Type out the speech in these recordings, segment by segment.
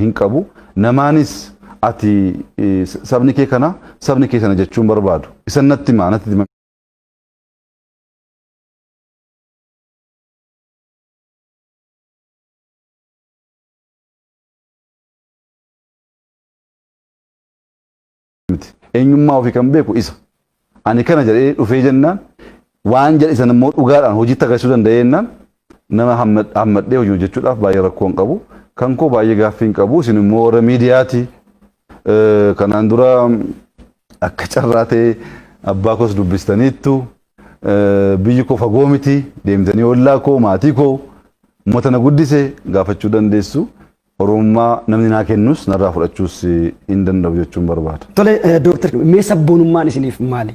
hin qabu. Namaanis ati sabni kee kana sabni kee sana jechuun barbaadu. Isan natti himaa natti himaa. miti. Eenyummaa ofii kan beeku isa. Ani kana jedhee dhufee jennaan waan jedhe sana immoo dhugaadhaan hojiitti agarsiisuu danda'ee jennaan nama hammadhee hojii hojjechuudhaaf baay'ee rakkoo hin qabu. Kan koo baay'ee gaaffii hin qabu. Isin immoo warra miidiyaati. Kanaan dura akka carraa ta'e abbaa koos dubbistaniittu. Biyyi koo fagoo miti. Deemtanii ollaa koo maatii koo uummata na guddise gaafachuu dandeessu. Oromummaa namni naa kennus narraa fudhachuus hin danda'u jechuun barbaada. Tole Dooktar mee sabboonummaan isiniif maali?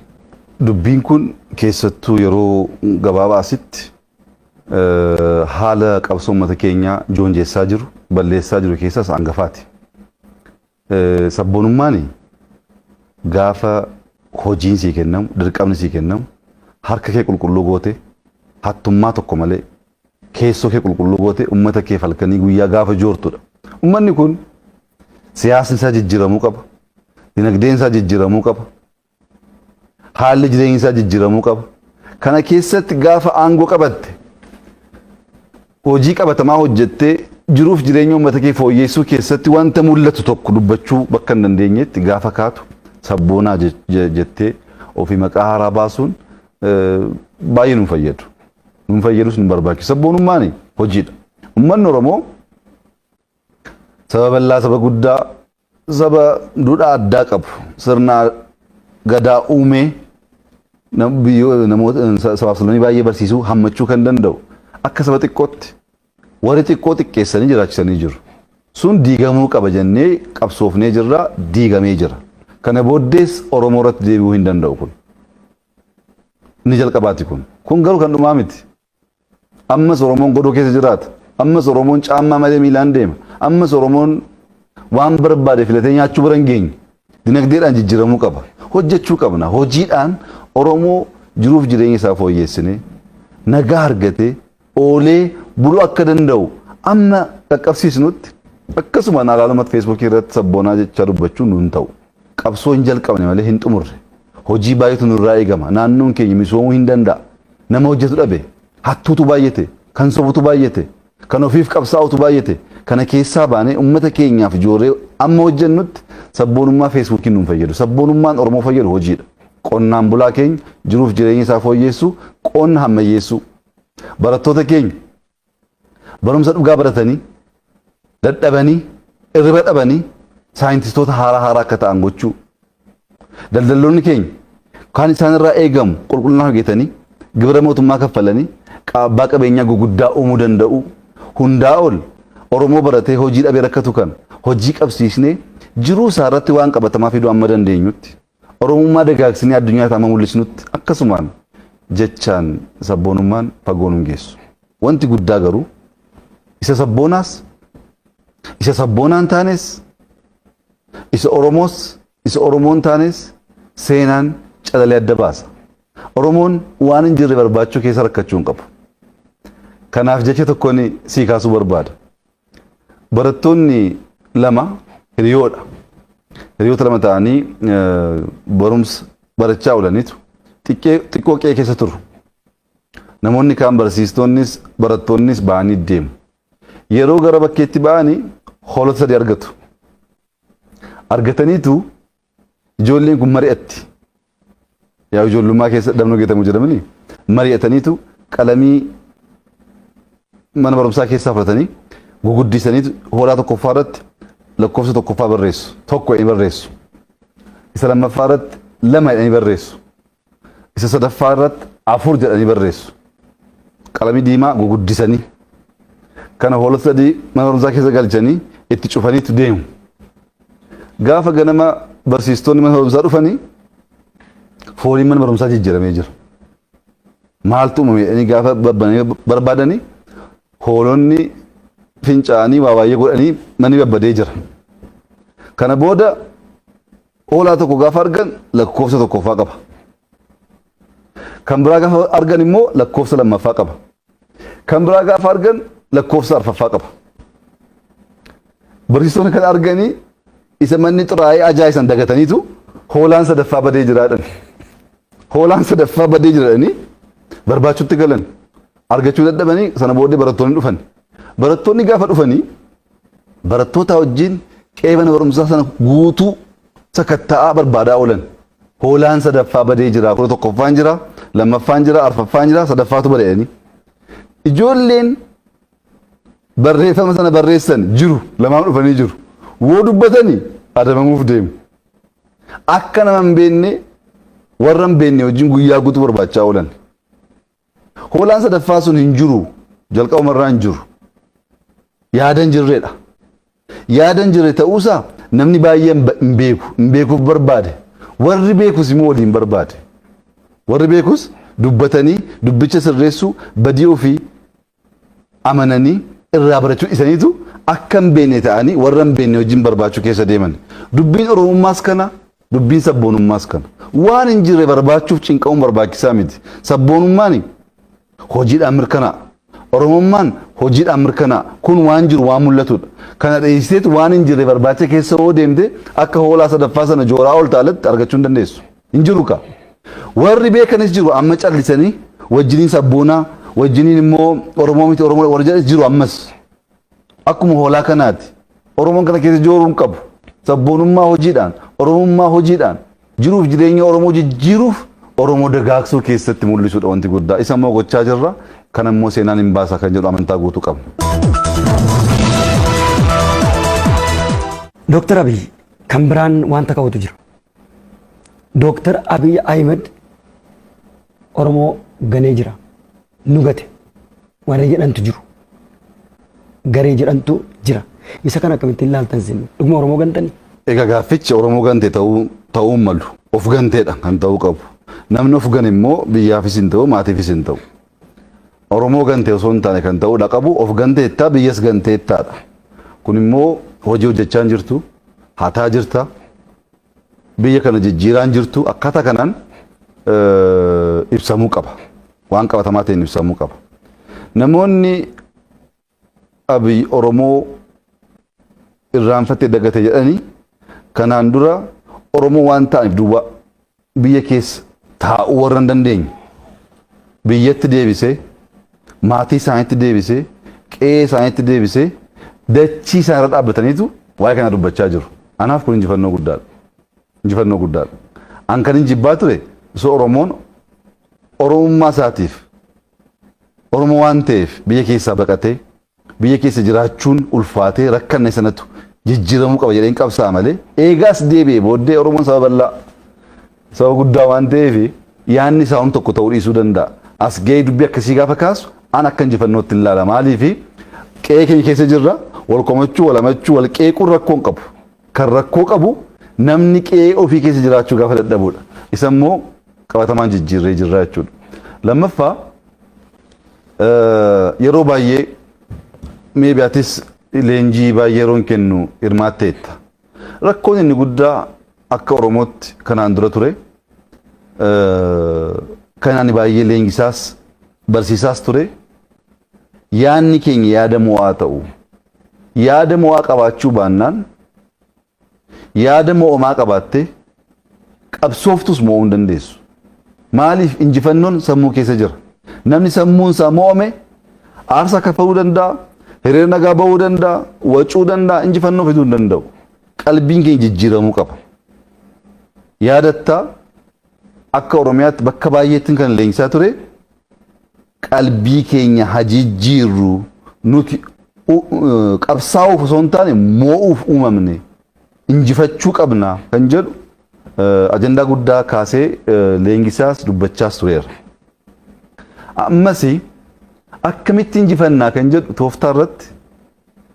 Dubbiin kun keessattuu yeroo gabaabaa asitti haala qabsoo uummata keenyaa joonjessaa jiru, balleessaa jiru keessaa isa hangafaati. Sabboonummaan gaafa hojiin sii kennamu, dirqamni sii kennamu, harka kee qulqulluu gootee, hattummaa tokko malee, keessoo kee qulqulluu gootee ummata keef halkanii guyyaa gaafa joortu dha. Ummanni kun siyaasni isaa jijjiramuu qaba, dinagdeen isaa jijjiramuu qaba, Haalli jireenya isaa jijjiiramuu qaba. Kana keessatti gaafa aangoo qabatte hojii qabatamaa hojjettee jiruuf jireenya uummata kee fooyyeessuu keessatti wanta mul'atu tokko dubbachuu bakka hin dandeenyetti gaafa kaatu sabboonaa je- je- jettee ofii maqaa haaraa baasuun eh, baay'ee nu fayyadu. Nu fayyadus nu barbaachisu. Sabboonummaan hojiidha. Uummanni Oromoo saba bal'aa saba guddaa Saba duudhaa addaa qabu sirna gadaa uumee nam- biyyoo- namoota sa- sabaaf sablammii baay'ee barsiisuu hammachuu kan danda'u akka saba xiqqootti warri xiqqoo xiqqeessanii jiraachisanii jiru. Sun diigamuu qaba jennee qabsoofnee jirra diigamee jira. Kana booddees Oromoo irratti deebi'uu hin danda'u kun. Inni jalqabaati kun. Kun garuu kan dhumaa miti. Ammas Oromoon godoo keessa jiraata. Ammas Oromoon caammaa malee miilaan deema. Ammas Oromoon waan barbaade filatee nyaachuu bira hin geenye. Dinagdeedhaan jijjiiramuu qaba. Hojjechuu qabna. Hojiidhaan Oromoo jiruuf jireenya isaa fooyyeessinee nagaa argatee oolee buluu akka danda'u amma qaqqabsiisnutti akkasuma naalaalumatti feesbuukii irratti sabboonaa jechaa dubbachuu nuun ta'u. Qabsoo hin jalqabne malee hin xumurre. Hojii baay'eetu nurraa eegama. Naannoon keenya misoomuu hin danda'a. Nama hojjetu dhabe, hattuutu baay'ate, kan sobutu baay'ate, kan ofiif qabsaa'utu baay'ate. Kana keessaa baanee uummata keenyaaf joorree amma hojjennutti sabboonummaa feesbuukiin nun fayyadu. Sabboonummaan Oromoo fayyadu hojiidha. Qonnaan bulaa keenya jiruuf jireenya isaa fooyyeessuu, qonna hammayyeessuu. Barattoota keenya barumsa dhugaa baratanii dadhabanii irriba dhabanii saayintistoota haaraa haaraa akka ta'an gochuu daldalloonni keenya kan isaanirraa eegamu qulqullina hojjetanii gibira mootummaa kaffalanii abbaa qabeenyaa guguddaa uumuu danda'u hundaa ol Oromoo baratee hojii dhabee rakkatu kan hojii qabsiisnee jiruu isaa irratti waan qabatamaa fiduu amma dandeenyutti Oromummaa dagaagsinee addunyaatti amma mul'isnutti akkasumaan jechaan sabboonummaan fagoo nun geessu. Wanti guddaa garuu isa sabboonaas isa sabboonaa hin taanes isa Oromoos isa Oromoo hin taanes seenaan calalee adda baasa. Oromoon waan hin jirre barbaachuu keessa rakkachuu hin qabu. Kanaaf jecha tokkoon sii kaasuu barbaada. Barattoonni lama hiriyoodha. Hiriyoota lama ta'anii barumsa barachaa oolaniitu xiqqoo qe'ee keessa turu. Namoonni kaan barsiistoonnis barattoonnis ba'anii deemu. Yeroo gara bakkeetti ba'anii hoolota sadii argatu. Argataniitu Ijoolleen kun mari'atti. Yaa ijoollummaa keessa dhabnoo geetamu jedhamanii mari'ataniitu qalamii mana barumsaa keessaa fudhatanii guguddisaniitu hoolaa tokkoffaa irratti lakkoofsa tokkoffaa barreessu. Tokko jedhanii barreessu. Isa lammaffaa irratti lama jedhanii barreessu. Isa sadaffaa irratti afur jedhanii barreessu. Qalamii diimaa guguddisanii. Kana hoolota sadii mana barumsaa keessa galchanii itti cufaniitu deemu. Gaafa ganama barsiistonni mana barumsaa dhufanii fooliin mana barumsaa jijjiiramee jira. Maaltu uumame jedhanii gaafa babbananii barbaadanii hoolonni fincaanii waa baay'ee godhanii manni babbadee jira. Kana booda Hoolaa tokko gaafa argan lakkoofsa tokkoffaa qaba. Kan biraa gaafa argan immoo lakkoofsa lammaffaa qaba. Kan biraa gaafa argan lakkoofsa arfaffaa qaba. Barsiisonni kan arganii isa manni xuraa'ee ajaa'isan dagataniitu hoolaan sadaffaa badee jiraadhan. Hoolaan sadaffaa badee jiraadhanii barbaachuutti galan. Argachuu dadhabanii sana booddee barattoonni dhufan. Barattoonni gaafa dhufanii barattootaa wajjin qe'ee mana barumsaa sana guutuu sakatta'aa barbaadaa oolan. Hoolaan sadaffaa badee jira, kudha tokkoffaan jira, lammaffaan jira, arfaffaan jira, sadaffaatu bada jedhanii. Ijoolleen barreeffama sana barreessan jiru, lamaan dhufanii jiru. Woo dubbatanii adabamuuf deemu. Akka nama hin beekne warra hin beekne wajjin guyyaa guutuu barbaachaa oolan. Hoolaan sadaffaa sun hin jiru. Jalqabuma irraa hin jiru. Yaada hin jirredha. Yaada hin jirre ta'uusaa namni baay'een hin beeku. Hin beekuuf barbaade. Warri beekus immoo waliin barbaade. Warri beekus dubbatanii dubbicha sirreessuu badii ofii amananii irraa barachuu dhisaniitu akka hin beekne ta'anii warra hin beekne wajjin barbaachuu keessa deeman. Dubbiin Oromummaas kana, dubbiin sabboonummaas kana. Waan hin jirre barbaachuuf cinqamuun barbaachisaa miti. Sabboonummaan hojiidhaan mirkanaa'a. Oromummaan hojiidhaan mirkanaa'a. Kun waan jiru waan mul'atudha. Kana dheessiteetu waan hin jirre barbaacha keessa hoo deemte akka hoolaa sadaffaa sana jooraa oolta alatti argachuu hin dandeessu. Hin jiru kaa. Warri beekanis jiru amma callisanii wajjiniin sabboonaa wajjiniin immoo Oromoo miti Oromoo warri jedhanis jiru ammas. Akkuma hoolaa kanaati. Oromoon kana keessa jooruu hin qabu. Sabboonummaa hojiidhaan, Oromummaa hojiidhaan jiruuf jireenya Oromoo jijjiiruuf Oromoo dagaagsuu keessatti mul'isuudha wanti guddaa. Isa immoo gochaa jirra. Kana immoo seenaan hin baasa kan jedhu amantaa guutuu qabna. Dooktar Abiy kan biraan wanta ka'utu jira. Dooktar Abiy Ahimad Oromoo ganee jira, nu gate warri jedhantu jiru. Garee jedhantu jira. Isa kana akkamittiin ilaaltan isin? Dhuguma Oromoo gantanii? Egaa gaaffichi Oromoo gante ta'uu ta'uu hin malu. Of ganteedha kan ta'uu qabu. Namni of gane immoo biyyaafis hin ta'u maatiifis hin ta'u. Oromoo gante osoo hin taane kan ta'uu dha qabu of ganteettaa biyyas ganteettaa dha. Kun immoo hojii hojjechaa hin jirtu hataa jirta biyya kana jijjiiraa hin jirtu akkaataa kanaan ibsamuu qaba. Waan qabatamaa ta'een ibsamuu qaba. Namoonni Abiy Oromoo irraanfatee dagate jedhanii kanaan dura Oromoo waan ta'aniif duwwaa biyya keessa taa'uu warra hin dandeenye biyyatti deebisee maatii isaaniitti deebisee qe'ee isaaniitti deebisee dachii isaan irra dhaabbataniitu waa'ee kana dubbachaa jiru. Anaaf kun injifannoo guddaadha. Injifannoo guddaadha. An kan injibbaa ture osoo Oromoon Oromummaa isaatiif Oromoo waan ta'eef biyya keessaa baqatee biyya keessa jiraachuun ulfaatee rakkanne sanatu jijjiiramuu qaba jedheen qabsaa'a malee eegaa as deebi'e booddee Oromoon saba bal'aa saba guddaa waan ta'eef yaanni isaa hom tokko ta'uu dhiisuu danda'a. As ga'ee dubbii akkasii gaafa kaasu an akka injifannootti hin laala maaliif qe'ee keenya keessa jirra wal komachuu wal hamachuu wal qeequun rakkoo hin qabu Kan rakkoo qabu namni qe'ee ofii keessa jiraachuu gaafa dadhabuudha. Isa immoo qabatamaan jijjiirree jirra jechuudha. Lammaffaa yeroo baay'ee meebi atis leenjii baay'ee yeroon kennu hirmaatteetta. Rakkoon inni guddaa akka Oromootti kanaan dura ture kan ani baay'ee leenjisaas barsiisaas ture yaadni keenya yaada mo'aa ta'u. Yaada mo'aa qabaachuu baannaan yaada mo'amaa qabaattee qabsooftus mo'uu hin dandeessu. Maaliif injifannoon sammuu keessa jira. Namni sammuun isaa mo'ame aarsaa kaffaluu danda'a, hiriira nagaa ba'uu danda'a, wacuu danda'a, injifannoo fiduu hin danda'u. Qalbiin keenya jijjiiramuu qaba. Yaadattaa Akka Oromiyaatti bakka baay'eettin kan leenjisaa ture qalbii keenya haa jijjiirru nuti qabsaa'uuf osoo hin taane moo'uuf uumamne injifachuu qabna kan jedhu ajandaa guddaa kaasee leenjisaas dubbachaas tureera. Ammas akkamitti injifannaa kan jedhu tooftaa irratti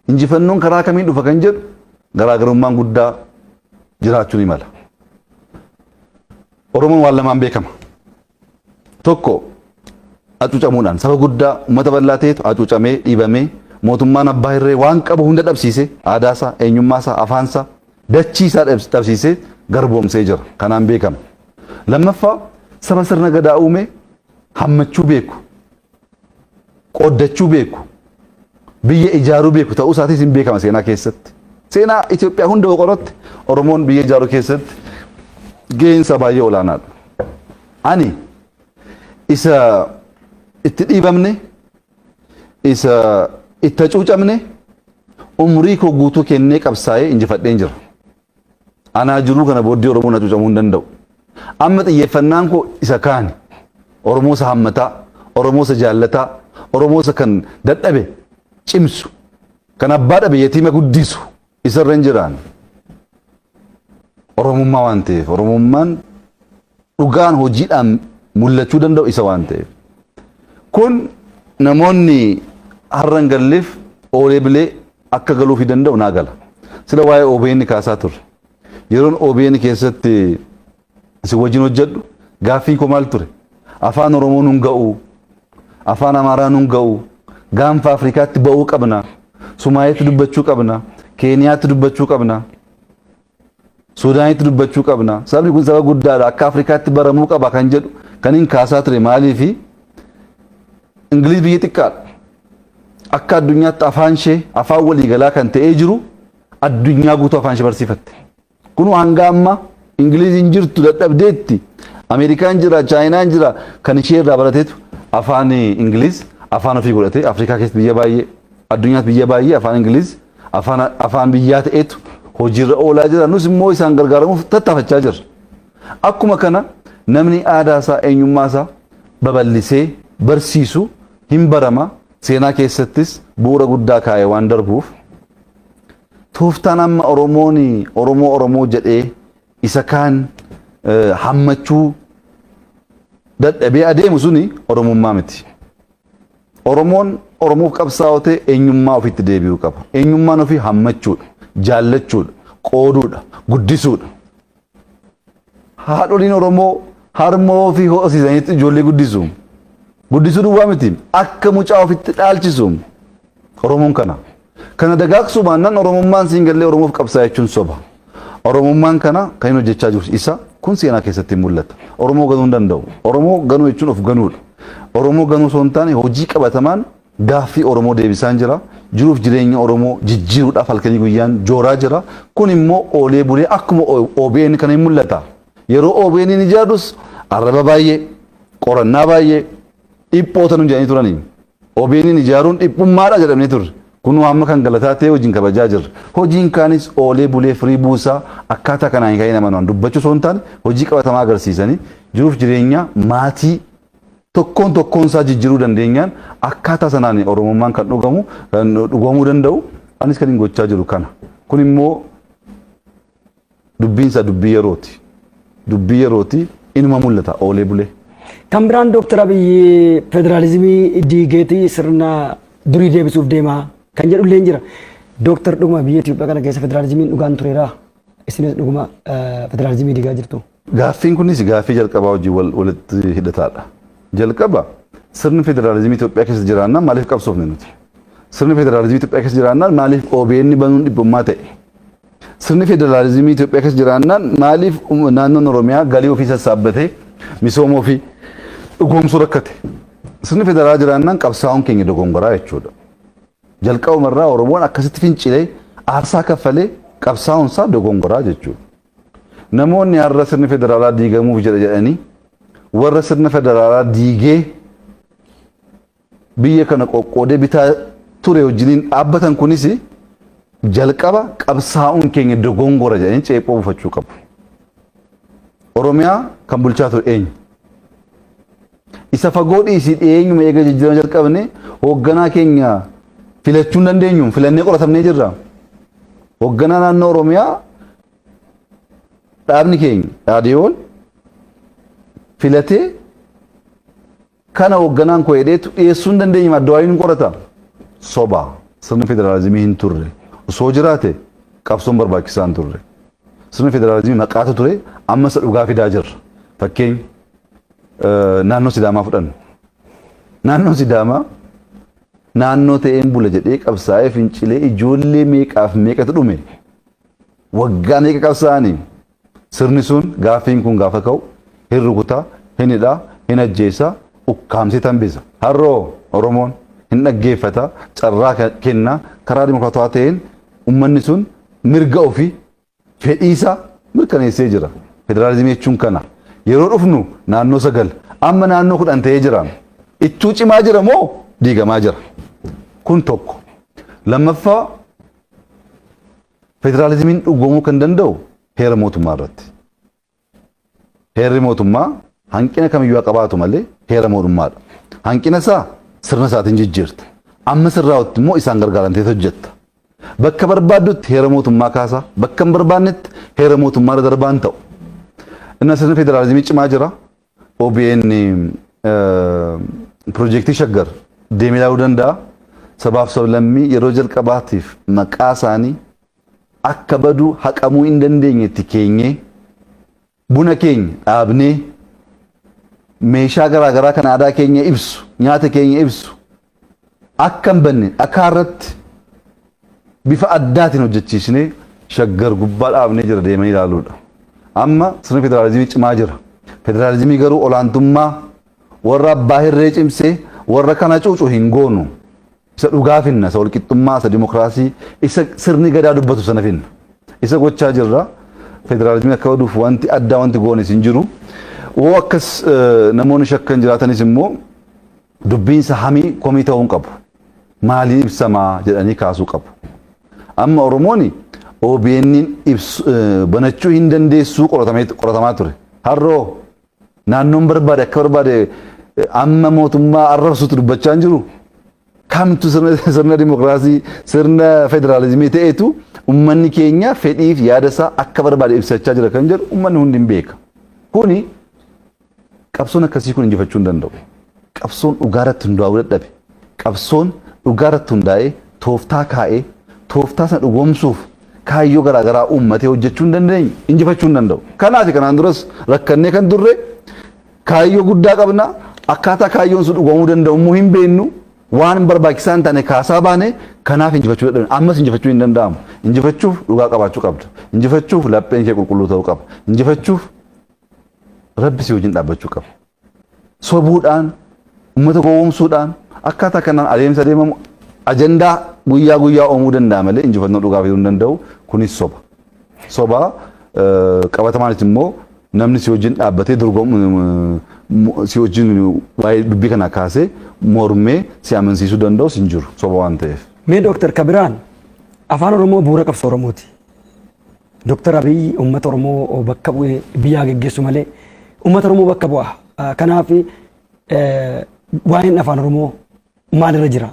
injifannoon karaa kamiin dhufa kan jedhu garaagarummaan guddaa jiraachuu ni mala. Oromoon waan lamaan beekama. Tokko hacuucamuudhaan saba guddaa uummata bal'aa ta'etu hacuucamee dhiibamee mootummaan abbaa hirree waan qabu hunda dhabsiise aadaasaa, eenyummaasaa, afaansaa, dachiisaa dhabsiisee garboomsee jira. Kanaan beekama. Lammaffaa saba sirna gadaa uume hammachuu beeku. qooddachuu beeku, biyya ijaaruu beeku ta'uu isaatiis hin beekama seenaa keessatti. Seenaa Itoophiyaa hunda yoo qoratte Oromoon biyya ijaaruu keessatti gaheen isaa baay'ee olaanaadha. Ani isa itti dhiibamne, isa itti hacuucamne umrii koo guutuu kennee qabsaa'ee injifadheen jira. Anaa jiruu kana booddee Oromoon hacuucamuu hin danda'u. Amma xiyyeeffannaan koo isa kaani. Oromoo isa hammataa, Oromoo isa jaallataa, Oromoo isa kan dadhabe cimsu, kan abbaa dhabe yatiima guddisu isarra hin jiraanne. Oromummaa waan ta'eef Oromummaan dhugaan hojiidhaan mul'achuu danda'u isa waan ta'eef. Kun namoonni har'a hin galleef oolee bilee akka galuufi danda'u naa gala. Sila waa'ee OBN kaasaa turre. Yeroon OBN keessatti isin wajjin hojjedhu gaaffiin koo maal ture? Afaan Oromoo nun ga'u, afaan Amaaraa nun ga'u, gaanfa Afrikaatti ba'uu qabna, Sumaayeetti dubbachuu qabna, Keeniyaatti dubbachuu qabna. Suudaanitti dubbachuu qabna. Sabni kun saba guddaadha. Akka Afrikaatti baramuu qaba kan jedhu kan hin kaasaa ture maaliifi? Ingiliiz biyya xiqqaadha. Akka addunyaatti afaan ishee afaan waliigalaa kan ta'ee jiru addunyaa guutuu afaan ishee barsiifatte. Kunuu hanga amma Ingiliiz hin jirtu dadhabdeetti. Ameerikaan jira, Chaayinaan jira kan ishee irraa barateetu afaan Ingiliiz afaan ofii godhatee Afrikaa keessatti biyya baay'ee addunyaatti biyya baay'ee afaan Ingiliiz afaan afaan biyyaa ta'etu hojiirra oolaa jira. Nus immoo isaan gargaaramuuf tattaafachaa jirra. Akkuma kana namni aadaa isaa eenyummaa isaa babal'isee barsiisu hin barama seenaa keessattis bu'uura guddaa kaa'e waan darbuuf tooftaan amma Oromoon Oromoo Oromoo jedhee isa kaan eh, hammachuu dadhabee adeemu suni Oromummaa miti. Oromoon Oromoof qabsaa'oo ta'e eenyummaa ofiitti deebi'uu qaba. Eenyummaan ofii hammachuudha, jaallachuudha, qooduudha, guddisuudha. Haadholiin Oromoo harmoo ofii ho'osiisanitti ijoollee guddisu. Guddisuu duwwaa miti akka mucaa ofitti dhaalchisu. Oromoon kana. Kana dagaagsuu baannaan Oromummaan siin gallee Oromoof qabsaa jechuun soba. Oromummaan kana kan hin hojjechaa jirus isa kun seenaa keessatti hin mul'ata. Oromoo ganuu hin danda'u. Oromoo ganuu jechuun of ganuudha. Oromoo ganuu osoo hin taane hojii qabatamaan gaaffii Oromoo deebisaan jira. Jiruuf jireenya Oromoo jijjiiruudhaaf halkanii guyyaan jooraa jira. Kun immoo oolee bulee akkuma OBN kana hin mul'ata. Yeroo OBN hin ijaarrus arraba baay'ee, qorannaa baay'ee, dhiphoota nu jedhanii turanii. OBNn ijaaruun dhiphummaadha jedhamnee turre. Kunoo amma kan galataa ta'ee hojiin kabajaa jirra. Hojiin kaanis oolee bulee firii buusaa akkaataa kanaan hin ka'in amanaan dubbachuu osoo hin taane hojii qabatamaa agarsiisanii jiruuf jireenya maatii tokkoon tokkoon isaa jijjiiruu dandeenyaan akkaataa sanaan Oromummaan kan dhugamu kan dhugoomuu danda'u anis kan hin gochaa jiru kana. Kun immoo dubbiin isaa dubbii yerooti. Dubbii yerooti inuma mul'ata oolee bulee. Kan biraan Dooktar Abiyyi federaalizimii diigeetii sirna durii deebisuuf deemaa kan jedhu illee jira. Dooktar dhuguma biyya Itoophiyaa kana keessa federaalizimiin dhugaan tureeraa? Isinis dhuguma federaalizimii diigaa jirtu? Gaaffiin kunis gaaffii jalqabaa wajjin walitti hidhataadha. Jalqaba sirni federaalizimii Itoophiyaa keessa jiraannaan maaliif qabsoofne nuti? Sirni federaalizimii Itoophiyaa keessa jiraannaan maaliif OBN banuun dhibbummaa ta'e? Sirni federaalizimii Itoophiyaa keessa jiraannaan maaliif naannoon Oromiyaa galii ofii sassaabbatee misooma ofii dhugoomsuu rakkate? Sirni federaalaa jiraannaan qabsaa'uun keenya dogongoraa jechuudha. Jalqabuma irraa Oromoon akkasitti fincilee aarsaa kaffalee qabsaa'uun isaa dogongoraa jechuudha. Namoonni har'a sirni federaalaa diigamuuf jedha jedhanii warra sirna federaalaa diigee biyya kana qoqqoodee bitaa ture wajjiniin dhaabbatan kunis jalqaba qabsaa'uun keenya dogongora jedhanii ceephoo buufachuu qabu. Oromiyaa kan bulchaa ture eenyu? Isa fagoo dhiisii dhiyeenyuma eega jijjiirama jalqabne hoogganaa keenya filachuu hin dandeenyu filannee qoratamnee jirra. Hoogganaa naannoo Oromiyaa dhaabni keenya dhaadiyoon filatee Kana hogganaan koo jedheetu dhiyeessuu hin dandeenye maddawaayuu hin qorata. Soba. Sirni federaalizimii hin turre. Osoo jiraate qabsoon barbaachisaa hin turre. Sirni federaalizimii maqaatu ture amma isa dhugaa fidaa jirra. Fakkeenya naannoo Sidaamaa fudhanna. Naannoo Sidaamaa naannoo ta'een bula jedhee qabsaa'ee fincilee ijoollee meeqaaf meeqatu dhume. Waggaa meeqa qabsaa'anii Sirni sun gaaffiin kun gaafa ka'u hin rukuta, hin hidha, hin ajjeesa, ukkaamsee tambisa. Har'a hoo Oromoon? Hin dhaggeeffata, carraa kenna, karaa dimokiraatawaa ta'een ummanni sun mirga ofii, fedhii isaa mirkaneessee jira. Federaalizimii jechuun kana. Yeroo dhufnu naannoo 9, amma naannoo 10 ta'ee jira. Ittuu cimaa jira moo diigamaa jira? Kun tokko. Lammaffaa Federaalizimiin dhugoomuu kan danda'u heera mootummaa irratti. Heerri mootummaa hanqina kamiyyuu haa qabaatu malee heera mootummaadha. Hanqina isaa sirna isaatiin jijjiirta. Amma sirraa'utti immoo isaan gargaaramtee hojjetta. Bakka barbaaddutti heera mootummaa kaasaa, bakka hin barbaannetti heera mootummaa irra darbaan ta'u. Inna sirni federaalizimii cimaa jira. OBN pirojektii Shaggar deemee ilaaluu danda'a. Sabaaf sablammii yeroo jalqabaatiif maqaa isaanii akka baduu haqamuu hin dandeenyetti keenyee buna keenya dhaabnee meeshaa garaagaraa kan aadaa keenya ibsu nyaata keenya ibsu akka hin banne dhakaa irratti bifa addaatiin hojjechiisnee Shaggar gubbaa dhaabnee jira deemanii ilaaluudha. Amma sirni federaalizimii cimaa jira. Federaalizimii garuu olaantummaa warra abbaa hirree cimsee warra kana cuucu hin goonu. Isa dhugaa finna, isa walqixxummaa, isa dimokiraasii, isa sirni gadaa dubbatu sana finna. Isa gochaa jirra. Federaalizimii akka baduuf wanti addaa wanti goonis hin jiru. Woo akkas namoonni shakkan jiraatanis immoo Dubbiin sahamii komii ta'uu hin qabu. Maaliin ibsama jedhanii kaasuu qabu. Amma Oromooni OBN'n ibsu banachuu hin dandeessuu qoratamee qoratamaa ture. Har'oo naannoon barbaade akka barbaade amma mootummaa arrabsuutti dubbachaa hin jiru. Kamtu sirna sirna dimokiraasii sirna federaalizimii ta'etu ummanni keenya fedhiif yaada isaa akka barbaade ibsachaa jira kan jedhu ummanni hundi hin beeka. Kuni Qabsoon akkasii kun injifachuu hin danda'u. Qabsoon dhugaa irratti hundaa'uu dadhabe. Qabsoon dhugaa irratti hundaa'ee tooftaa kaa'ee tooftaa sana dhugoomsuuf kaayyoo garaa garaa uummatee hojjechuu hin dandeenye injifachuu hin danda'u. Kanaaf kanaan duras rakkannee kan turre kaayyoo guddaa qabna akkaataa kaayyoon sun dhugoomuu danda'u immoo hin beeknu waan barbaachisaa hin taane kaasaa baane kanaaf injifachuu dadhabne ammas injifachuu hin danda'amu. Injifachuuf dhugaa qabaachuu qabda. Injifachuuf lapheen kee qulqulluu ta'uu qaba. Injifachuuf rabbi si wajjin dhaabbachuu qaba. Sobuudhaan, uummata gowwoomsuudhaan akkaataa kanaan adeemsa deemamu ajandaa guyyaa guyyaa uumuu danda'a malee injifannoo dhugaa fiduu hin danda'u. Kunis soba. Soba qabatamaanis immoo namni si wajjin dhaabbatee dorgomu si wajjin waa'ee dubbii kana kaasee mormee si amansiisuu danda'us hin jiru soba waan ta'eef. Mee Dooktar Kabiraan afaan Oromoo bu'uura qabsoo Oromooti. Dr. Abiy uummata Oromoo bakka bu'ee biyyaa geggeessu malee uummata Oromoo bakka bu'a. Kanaaf waa'een afaan Oromoo maalirra jira?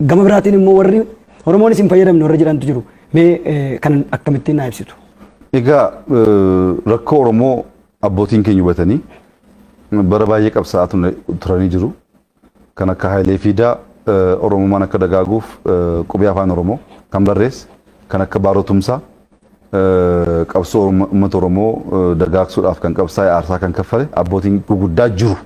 Gama biraatiin immoo warri Oromoonis hin fayyadamne warra jedhantu jiru. Mee kan akkamittiin naa ibsitu? Egaa rakkoo Oromoo abbootiin keenya hubatanii bara baay'ee qabsaa'aa turanii jiru. kan akka Hayilee Fiidaa Oromummaan akka dagaaguuf qubee Afaan Oromoo kan barreesse kan akka Baaroo Tumsaa qabsoo uummata Oromoo dagaagsuudhaaf kan qabsaa'e aarsaa kan kaffale abbootiin guguddaa jiru.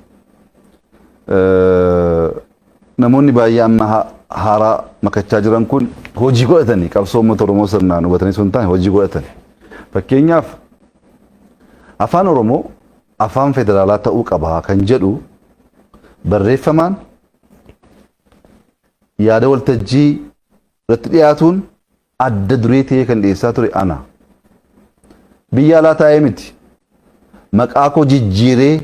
Namoonni baay'ee amma haaraa makachaa jiran kun hojii godhatanii qabsoo uummata Oromoo sirnaan hubatanii sun taane hojii godhatanii. Fakkeenyaaf Afaan Oromoo afaan federaalaa ta'uu qaba kan jedhu barreeffamaan yaada waltajjii irratti dhiyaatuun adda duree ta'ee kan dhiyeessaa ture ana. Biyya alaa taa'ee miti. Maqaa koo jijjiiree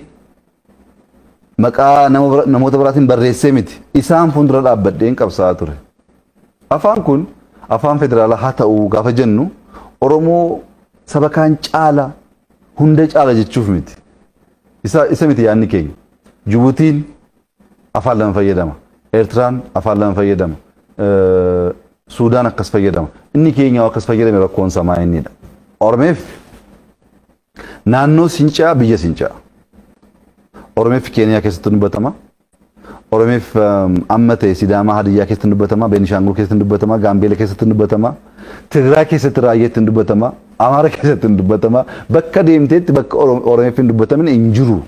maqaa nama bira- namoota biraatiin barreessee miti. Isaan fuuldura dhaabbadheen qabsaa'aa ture. Afaan kun afaan federaalaa haa ta'u gaafa jennu Oromoo saba kaan caala hunda caala jechuuf miti. Isa, isa miti yaadni keenya. Jibutiin afaan lama fayyadama. Eertiraan afaan lama fayyadama. Eh, Suudaan akkas fayyadama. Inni keenya akkas fayyadame rakkoon samaa innidha. Oromeef naannoo sincaa biyya sincaa. Oromeef Keeniyaa keessatti ni batama. Oromeef amma ta'e Sidaamaa Hadiyyaa keessatti dubbatama, Beenishaangul keessatti dubbatama, Gaambeela keessatti dubbatama, Tigraay keessatti Raayyaa ittiin dubbatama, Amaara keessatti hin dubbatama, bakka deemteetti bakka Oromeef hin dubbatamin hin jiru.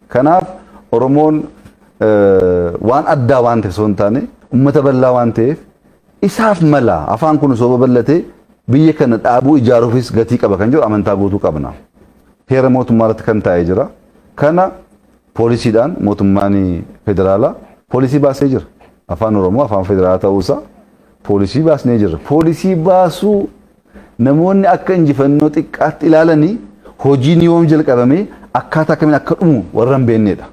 Kanaaf Oromoon waan addaa waan ta'e osoo hin taane uummata bal'aa waan ta'eef isaaf mala afaan kun osoo babal'atee biyya kana dhaabuu ijaaruufis gatii qaba kan jedhu amantaa guutuu qabna. Heera mootummaa irratti kan taa'ee jira. Kana poolisiidhaan mootummaan federaalaa poolisii baasee jira. Afaan Oromoo afaan federaalaa ta'uusaa poolisii baasnee jirra. Poolisii baasuu namoonni akka injifannoo xiqqaatti ilaalanii hojiin yoom jalqabamee akkaataa akkamiin akka dhumu warra hin beeknedha.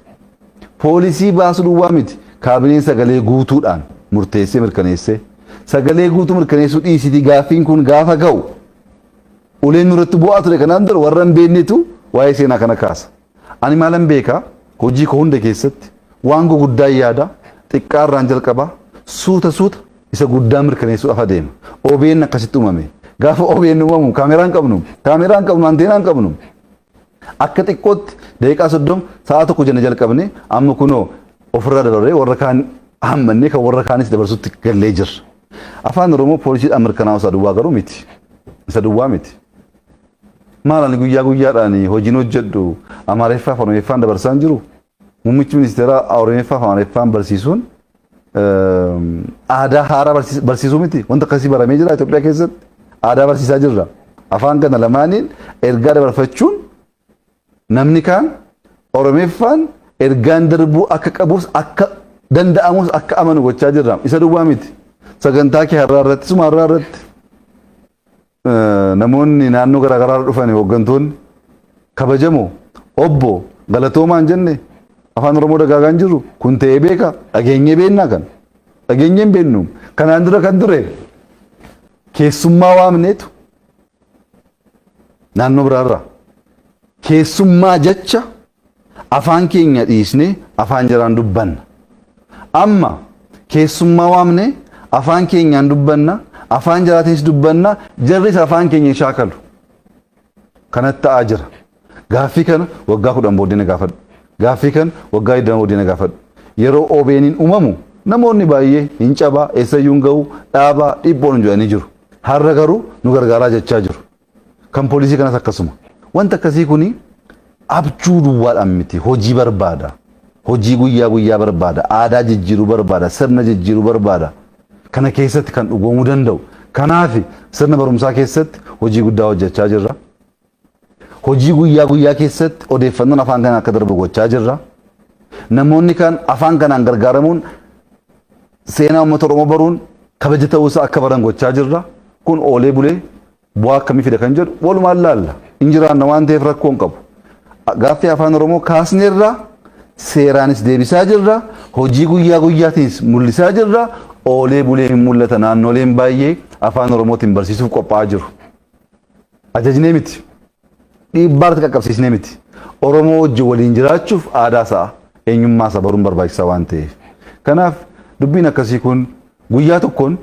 Poolisii baasuu duwwaa miti kaabineen sagalee guutuudhaan murteessee mirkaneessee sagalee guutuu mirkaneessuu dhiisitii gaaffiin kun gaafa ga'u uleen nurratti bu'aa ture kanaan dura warra hin beeknetu waa'ee seenaa kana kaasa. Ani maalan beeka, hojii koo hunda keessatti waan guguddaan yaada, xiqqaa irraan jalqaba, suuta suuta isa guddaa mirkaneessuudhaaf adeema. OBN akkasitti uumame. Gaafa OBN uumamu kaameraa hin qabnu, kaameraa hin qabnu, anteenaa hin qabnu. Akka xiqqootti daqiiqaa 30 sa'a tokko jenna jalqabne amma kunoo ofirraa dabarree warra kaan hammannee kan warra kaanis dabarsutti gallee jirra. Afaan Oromoo poolisiidhaan mirkanaa'u isaa duwwaa garuu miti. Isa duwwaa miti. Maal ani guyyaa guyyaadhaan hojiin hojjedhu Amaariffaa fi Oromiffaan dabarsaan jiru? Muummichi ministeeraa Oromiffaa fi Amaariffaan barsiisuun aadaa haaraa barsiisuu miti. Wanta akkasii baramee jira Itoophiyaa keessatti. Aadaa barsiisaa jirra. Afaan kana lamaaniin ergaa dabarfachuun namni kaan Oromiffaan ergaan darbuu akka qabus akka danda'amus akka amanu gochaa jirra. Isa duwwaa miti. Sagantaa kee har'aa irratti suma har'aa irratti namoonni naannoo garaa garaarra dhufan hooggantoonni kabajamoo obbo galatoomaan jenne afaan oromoo dagaagaa hin jiru kun ta'ee beeka dhageenyee beennaa kan dhageenyee hin beennu kanaan dura kan ture keessummaa waamneetu naannoo biraarraa keessummaa jecha afaan keenya dhiisnee afaan jaraan dubbanna. Amma keessummaa waamnee afaan keenyaan dubbanna, afaan jaraatiinis dubbanna, jarris afaan keenya hin shaakalu. Kanatti ta'aa jira. Gaaffii kana waggaa kudhan booddee na gaafadhu. Gaaffii kana waggaa 20 booddee na gaafadhu. Yeroo OBN'n uumamu namoonni baay'ee hin cabaa, eessayyuu hin ga'u, dhaabaa, dhiphoon jedhanii jiru. Har'a garuu nu gargaaraa jechaa jiru. kan poolisii kanas akkasuma. Wanti akkasii kun abjuu duwwaadhaan miti hojii barbaada. Hojii guyyaa guyyaa barbaada. Aadaa jijjiiruu barbaada. Sirna jijjiiruu barbaada. Kana keessatti kan dhugoomuu danda'u. Kanaaf sirna barumsaa keessatti hojii guddaa hojjechaa jirra. Hojii guyyaa guyyaa keessatti odeeffannoon afaan kanaan akka darbu gochaa jirra. Namoonni kan afaan kanaan gargaaramuun Seenaa uummata Oromoo baruun kabaja ta'uu isaa akka baran gochaa jirra. Kun oolee bulee bu'aa akkamii fida kan jedhu walumaan laalla. Hin jiraanna waan ta'eef rakkoo hin qabu. Gaaffii afaan Oromoo kaasneerra seeraanis deebisaa jirra. Hojii guyyaa guyyaatiinis mul'isaa jirra. Oolee bulee hin mul'ata naannoleen baay'ee afaan Oromootiin barsiisuuf qophaa'aa jiru. Ajajnee miti. dhiibbaa irratti qaqqabsiisnee miti. Oromoo wajjin waliin jiraachuuf aadaa isaa, eenyummaa isaa baruun barbaachisaa waan ta'eef. Kanaaf dubbiin akkasii kun guyyaa tokkoon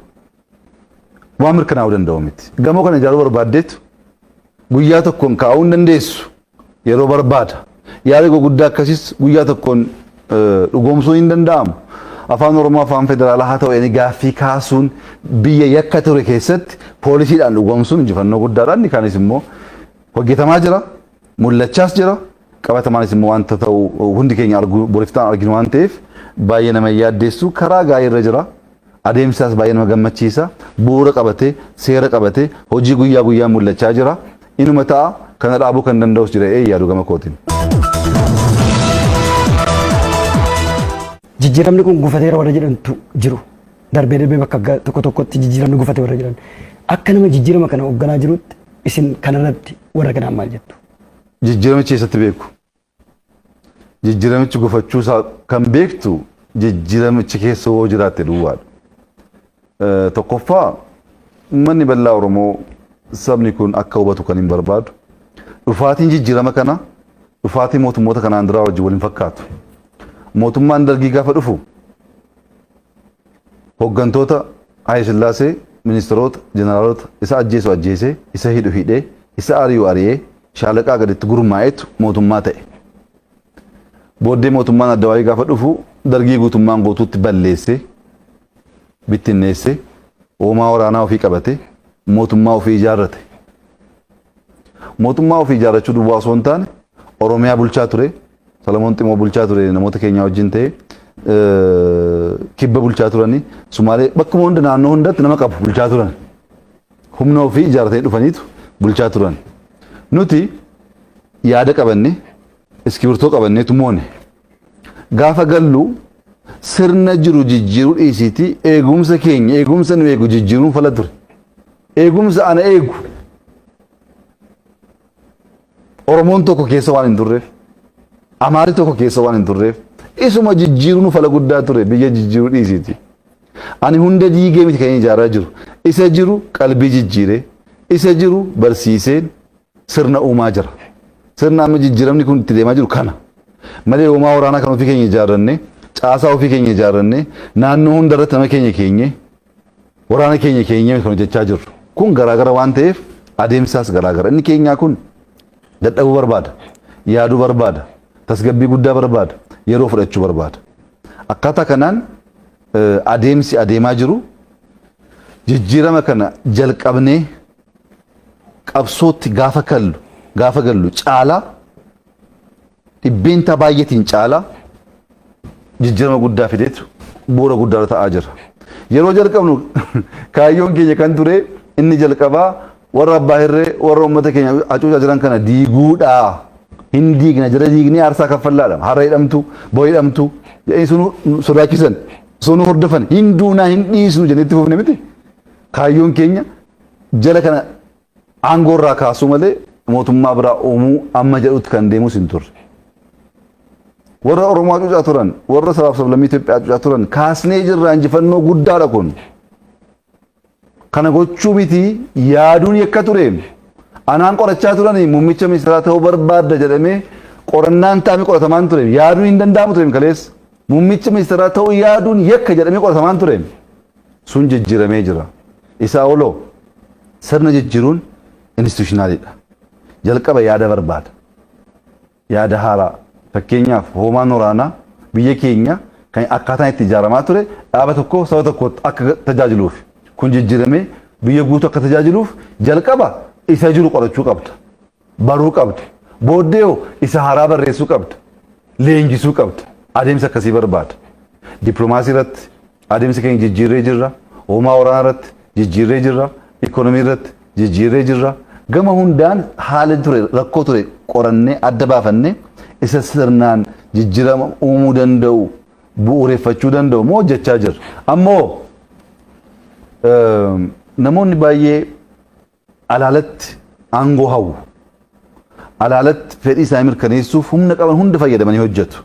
waan mirkanaa'uu danda'u miti. Gamoo kana ijaaruu barbaaddeetu guyyaa tokkoon kaa'uu hin dandeessu. Yeroo barbaada. Yaada guguddaa akkasiis guyyaa tokkoon dhugoomsuun hin danda'amu. Afaan Oromoo afaan federaalaa haa ta'u jedhanii gaaffii kaasuun biyya yakka ture keessatti poolisiidhaan dhugoomsuun injifannoo guddaadha. Inni kaanis immoo hojjetamaa jira, mul'achaas jira. Qabatamaanis immoo wanta ta'u hundi keenya arguu boriftaan arginu waan ta'eef baay'ee nama hin yaaddeessu. Karaa gaariirra jira. Adeemsi isaas baay'ee nama gammachiisa. Bu'uura qabatee, seera qabatee, hojii guyyaa guyyaan mul'achaa jira. Inuma ta'a kana dhaabuu kan danda'us jira ee yaadu gama kootiin. Jijjiiramni kun gufateera warra jedhantu jiru. Darbee darbee bakka ga- tokko tokkotti jijjiiramni gufate warra jedhan. Akka nama jijjiirama kana hoogganaa jirutti isin kanarratti warra kanaan maal jettu? Jijjiiramichi eessatti beeku? jijjiramichi gufachuu isaa kan beektu jijjiramichi keessa yoo jiraatte duwwaadha. Tokkoffaa uummanni bal'aa Oromoo sabni kun akka hubatu kan hin barbaadu. Dhufaatiin jijjirama kana dhufaatii mootummoota kanaan duraa wajjin wal hin fakkaatu. Mootummaan dargii gaafa dhufu hoggantoota Haayile Sillaasee ministeroota jeneraalota isa ajjeesu ajjeese isa hidhu hidhee isa ari'u ari'ee shaalaqaa gaditti gurmaa'etu mootummaa ta'e. Booddee mootummaan addawaayii gaafa dhufu dargii guutummaan guutuutti balleesse bittinneesse hoomaa waraanaa ofii qabate mootummaa ofii ijaarrate. Mootummaa ofii ijaarrachuu duwwaa osoo hin taane Oromiyaa bulchaa ture Solomoon Ximoo bulchaa ture namoota keenyaa wajjin ta'e kibba bulchaa turanii Sumaalee bakkuma hunda naannoo hundatti nama qabu bulchaa turan. Humna ofii ijaarratanii dhufaniitu bulchaa turan. Nuti yaada qabanne iskibirtoo qabannee tumoone. Gaafa gallu sirna jiru jijjiiruu dhiisiitii eegumsa keenya eegumsa nu eegu jijjiiruun fala ture. Eegumsa ana eegu. Oromoon tokko keessa waan hin turreef, Amaari tokko keessa waan hin turreef, isuma jijjiiruun fala guddaa ture biyya jijjiiruu dhiisiiti. Ani hunda diigee miti kan ijaaraa jiru. Isa jiru qalbii jijjiiree, isa jiru barsiiseen sirna uumaa jira. Sirna amma jijjiiramni kun itti deemaa jiru kana. Malee hoomaa waraanaa kan ofii keenya ijaarrannee, caasaa ofii keenya ijaarrannee, naannoo hunda irratti nama keenya keenyee, waraana keenya keenyaan kan hojjechaa jirru. Kun garaagara waan ta'eef adeemsaas garaagara. Inni keenyaa kun dadhabuu barbaada, yaaduu barbaada, tasgabbii guddaa barbaada, yeroo fudhachuu barbaada. Akkaataa kanaan adeemsi adeemaa jiru jijjiirama kana jalqabnee qabsootti gaafa kallu gaafa gallu caalaa dhibbeentaa baay'eetiin caalaa jijjiirama guddaa fideetu bu'uura guddaarra ta'aa jira. Yeroo jalqabnu kaayyoon keenya kan ture inni jalqabaa warra abbaa hirree warra uummata keenya hacuucaa jiran kana diiguudha. Hin diigna jara diignee aarsaa kaffallaadha. Har'a hidhamtu, bor hidhamtu. Jedhanii sunu sodaachisan, sunu hordofan, hin duunaa, hin dhiisnu jennee itti fufne miti. Kaayyoon keenya jara kana Aangoo irraa kaasuu malee mootummaa biraa uumuu amma jedhutti kan deemus hin turre. Warra Oromoo hacuucaa turan, warra sabaaf sablammii Itoophiyaa hacuucaa turan kaasnee jirra injifannoo guddaadha kun. Kana gochuu miti yaaduun yakka ture. Anaan qorachaa turanii muummicha ministeeraa ta'uu barbaadda jedhamee qorannaan taa'amee qoratamaan ture. Yaaduun hin danda'amu ture kaleessa. Muummicha ministeeraa ta'uu yaaduun yakka jedhamee qoratamaan ture. sun jijjiramee jira. Isaa oloo sirna jijjiruun institutionalidha. Jalqaba yaada barbaada. Yaada haaraa. Fakkeenyaaf hoomaan waraanaa biyya keenya kan akkaataan itti ijaaramaa ture dhaaba tokkoof saba tokko akka tajaajiluuf kun jijjiramee biyya guutuu akka tajaajiluuf jalqaba isa jiru qorachuu qabda. baruu qabda. Booddee hoo isa haaraa barreessuu qabda. Leenjisuu qabda. Adeemsa akkasii barbaada. Dippilomaasii irratti adeemsa keenya jijjiirree jirra. Hoomaa waraanaa irratti jijjiirree jirra. Ikoonomii irratti jijjiirree jirra. Gama hundaan haala ture rakkoo ture qorannee adda baafannee isa sirnaan jijjiirama uumuu danda'u bu'uureffachuu danda'u moo hojjechaa jirra. Ammoo namoonni baay'ee alaalatti aangoo hawwu. Alaalatti fedhii isaanii mirkaneessuuf humna qaban hunda fayyadamanii hojjetu.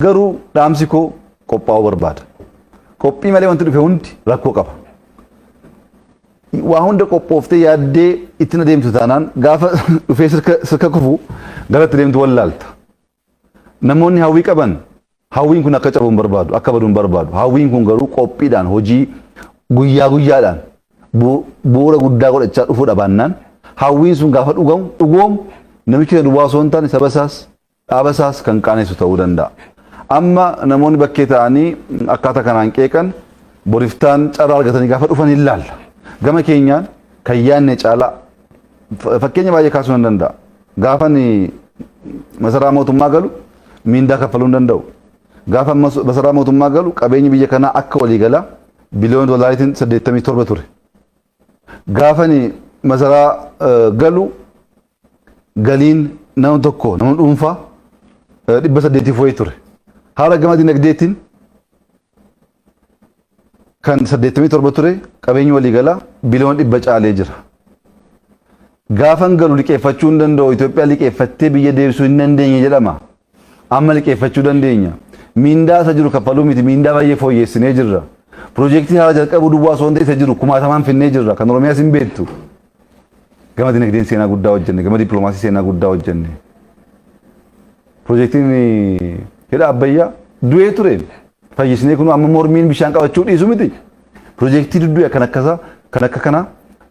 Garuu dhaamsi koo qophaa'uu barbaada. Qophii malee wanti dhufe hundi rakkoo qaba. Waa hunda qophooftee yaaddee ittiin adeemtu taanaan gaafa dhufee sirka kufu garatti deemtu wallaalta. Namoonni hawwii qaban hawwiin kun akka cabu hin barbaadu, akka badu hin barbaadu. Hawwiin kun garuu qophiidhaan hojii guyyaa guyyaadhaan bu'uura guddaa godhachaa dhufuudha baannaan hawwiin sun gaafa dhugamu dhugoomu namichi kana duwwaa osoo hin taane saba isaas dhaaba isaas kan qaanessu ta'uu danda'a. Amma namoonni bakkee ta'anii akkaataa kanaan qeeqan boriftaan carraa argatanii gaafa dhufan hin laalla. Gama keenyaan kan yaadne caalaa fakkeenya baay'ee kaasuu nan danda'a. Gaafan masaraa mootummaa galu miindaa kaffaluu hin danda'u. Gaafan masaraa mootummaa galu qabeenyi biyya kanaa akka waliigalaa biliyoona doolaariitiin 87 ture. Gaafan masaraa galu galiin nama tokko nama dhuunfaa 800 wayii ture. Haala gama dinagdeetiin kan 87 ture qabeenyi waliigalaa biliyoona dhibba caalee jira. Gaafan galu liqeeffachuu hin danda'u Itoophiyaa liqeeffattee biyya deebisuu hin dandeenye jedhama. Amma liqeeffachuu dandeenya. Miindaa isa jiru kaffaluu miti miindaa baay'ee fooyyeessinee jirra. Piroojeektii haaraa jalqabuu duwwaa osoo hin ta'in isa jiru kumaatamaan finnee jirra kan Oromiyaas hin beektu. Gama dinagdeen seenaa guddaa hojjenne gama dippiloomaasii seenaa guddaa hojjenne. Pirojektiin hidha Abbayyaa du'ee ture fayyisnee kun amma mormiin bishaan qabachuu dhiisu miti. Pirojektii duddu'e kan akkasa kan akka kana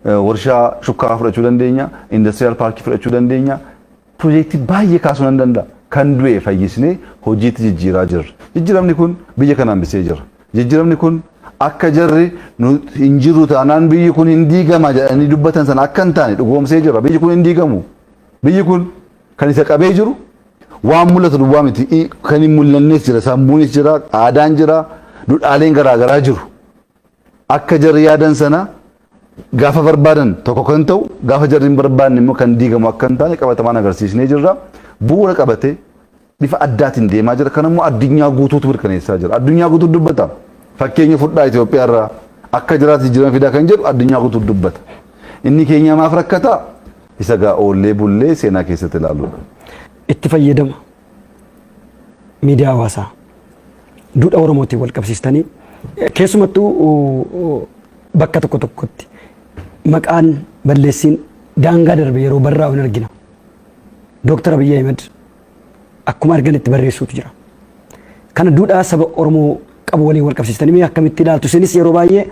warshaa shukkaraa fudhachuu dandeenya, indastiriyaal paarkii fudhachuu dandeenya. Pirojektii baay'ee kaasuu nan danda'a. Kan du'e fayyisnee hojiitti jijjiiraa jirra. Jijjiiramni kun biyya kana hambisee jira. Jijjiiramni kun akka jarri hin jirru taanaan biyyi kun hin diigama jedhanii dubbatan sana akka hin taane dhugoomsee jira. Biyyi kun hin diigamu. Biyyi kun Kan isa qabee jiru waan mul'atu duwwaa miti. I- Kan hin mul'annes jira, sammuunis jira, aadaan jira, dudhaaleen garaagaraa jiru. Akka jarri yaadan sana gaafa barbaadan tokko kan ta'u, gaafa jarri hin barbaanne immoo kan diigamu akka hin taane qabatamaan agarsiisnee jirra. Bu'uura qabatee bifa addaatiin deemaa jira. Kan immoo addunyaa guutuutu mirkaneessaa jira. Addunyaa guutuu dubbata. Fakkeenya fudhaa Itoophiyaa irraa akka jiraatu jijjiirama fidaa kan jedhu addunyaa guutuu dubbata. Inni keenyaa maaf rakkataa? Isa gaa oollee bullee seenaa keessatti ilaaluudha. Itti fayyadama miidiyaa hawaasaa duudha Oromootiin wal qabsiistanii keessumattuu bakka tokko tokkotti maqaan balleessiin daangaa darbe yeroo barraa'u hin argina. Dooktar Abiyyi Ahimad akkuma argan itti barreessuutu jira. Kana duudhaa saba Oromoo qabu waliin wal qabsiistanii mee akkamitti ilaaltu isinis yeroo baay'ee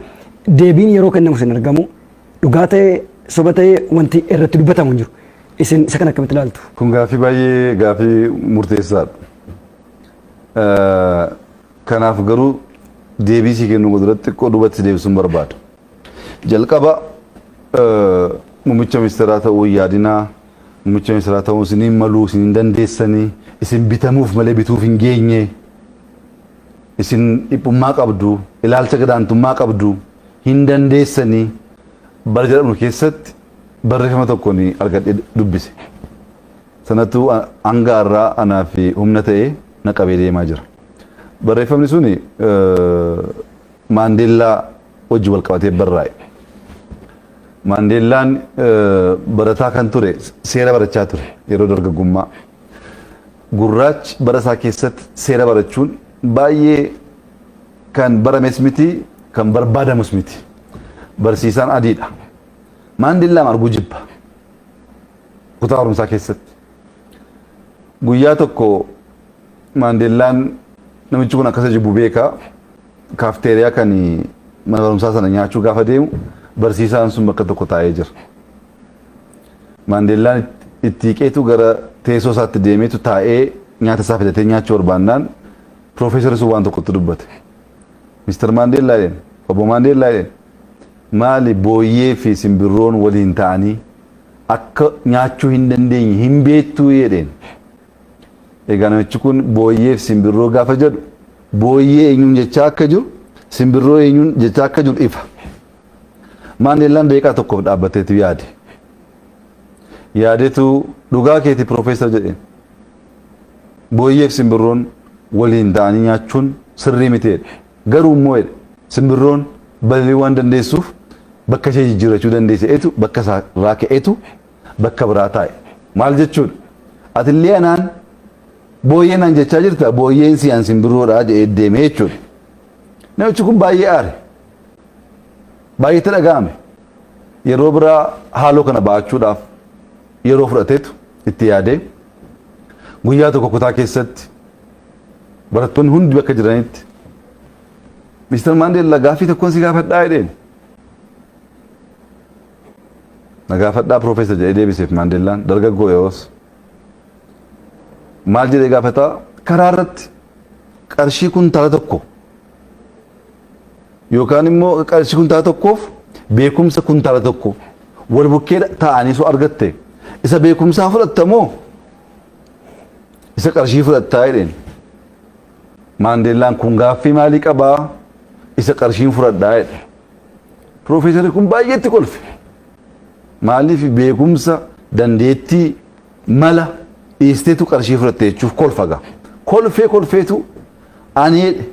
deebiin yeroo kennamu isin argamu dhugaa ta'ee soba ta'ee wanti irratti dubbatamu hin jiru. Isin isa kana akkamitti ilaaltu? Kun gaaffii baay'ee gaaffii murteessaadha. Eh, Kanaaf garuu deebii sii kennuu godhu irratti xiqqoo duubatti deebisuun barbaada. Jalqaba eh, muummicha ministeeraa ta'uu yaadinaa Muummicha ministeeraa ta'uun isin hin malu, isin hin dandeessani, isin bitamuuf malee bituuf hin geenye, isin dhiphummaa qabdu, ilaalcha gadaantummaa qabdu, hin dandeessani bara jedhamu keessatti barreeffama tokkon argadhee dubbise. Sanatu hanga har'aa anaaf humna ta'ee na qabee deemaa jira. Barreeffamni sun Maandeellaa wajjin wal qabatee barraa'e. Maandeellaan barataa kan ture seera barachaa ture yeroo dargaggummaa. Gurraachi bara isaa keessatti seera barachuun baay'ee kan barames miti kan barbaadamus miti. Barsiisaan adiidha. Maandeellaam arguu jibba. Kutaa barumsaa keessatti. Guyyaa tokko maandeellaan namichi kun akkasa jibbu beeka. kaafteeriyaa kan mana barumsaa sana nyaachuu gaafa deemu barsiisaan sun bakka tokko taa'ee jira. Maandeellaan itti hiqeetu gara teessoo isaatti deemeetu taa'ee nyaata isaa fidatee nyaachuu barbaannaan piroofeesarri sun waan tokkotti dubbate. Mister Maandeellaa jedheen, obbo Maandeellaa jedheen, maali booyyee fi simbirroon waliin ta'anii akka nyaachuu hin dandeenye hin beektuu jedheen. Egaa namichi kun booyyee fi simbirroo gaafa jedhu booyyee eenyuun jechaa akka jiru simbirroo eenyuun jechaa akka jiru ifa. Maandeellaan daqiiqaa tokkoof dhaabbateetu yaade. Yaadetu dhugaa keeti piroofeesar jedheen. Booyyee fi simbirroon waliin ta'anii nyaachuun sirrii miti jedhe. Garuu immoo jedhe simbirroon balali'uu waan dandeessuuf bakka ishee jijjiirrachuu dandeesseetu bakka isaa irraa ka'eetu bakka biraa taa'i. Maal jechuudha? Atillee anaan booyyee naan jechaa jirta booyyeen si an simbiroodha jedhee deemee jechuudha. Namichi kun baay'ee aare. Baay'ee itti dhaga'ame. Yeroo biraa haaloo kana ba'achuudhaaf yeroo fudhateetu itti yaadee guyyaa tokko kutaa keessatti barattoonni hundi bakka jiranitti Mr. Maandeellaa gaaffii tokkoon si gaafadhaa jedheen. Na gaafadhaa Professor jedhee deebiseef Maandellaan dargaggoo yeroos. Maal jedhee gaafata? Karaa irratti qarshii kuntaala tokko yookaan immoo qarshii kuntaala tokkoof beekumsa kuntaala tokko wal bukkee taa'anii soo argatte isa beekumsaa fudhatta moo isa qarshii fudhattaa jedheen. Maandellaan kun gaaffii maalii qabaa? Isa qarshiin fudhadhaa jedhe. Piroofeesarri kun baay'ee itti kolfe. Maaliif beekumsa, dandeettii, mala dhiisteetu qarshii fudhatte jechuuf kolfa gaa. Kolfee kolfeetu ani jedhe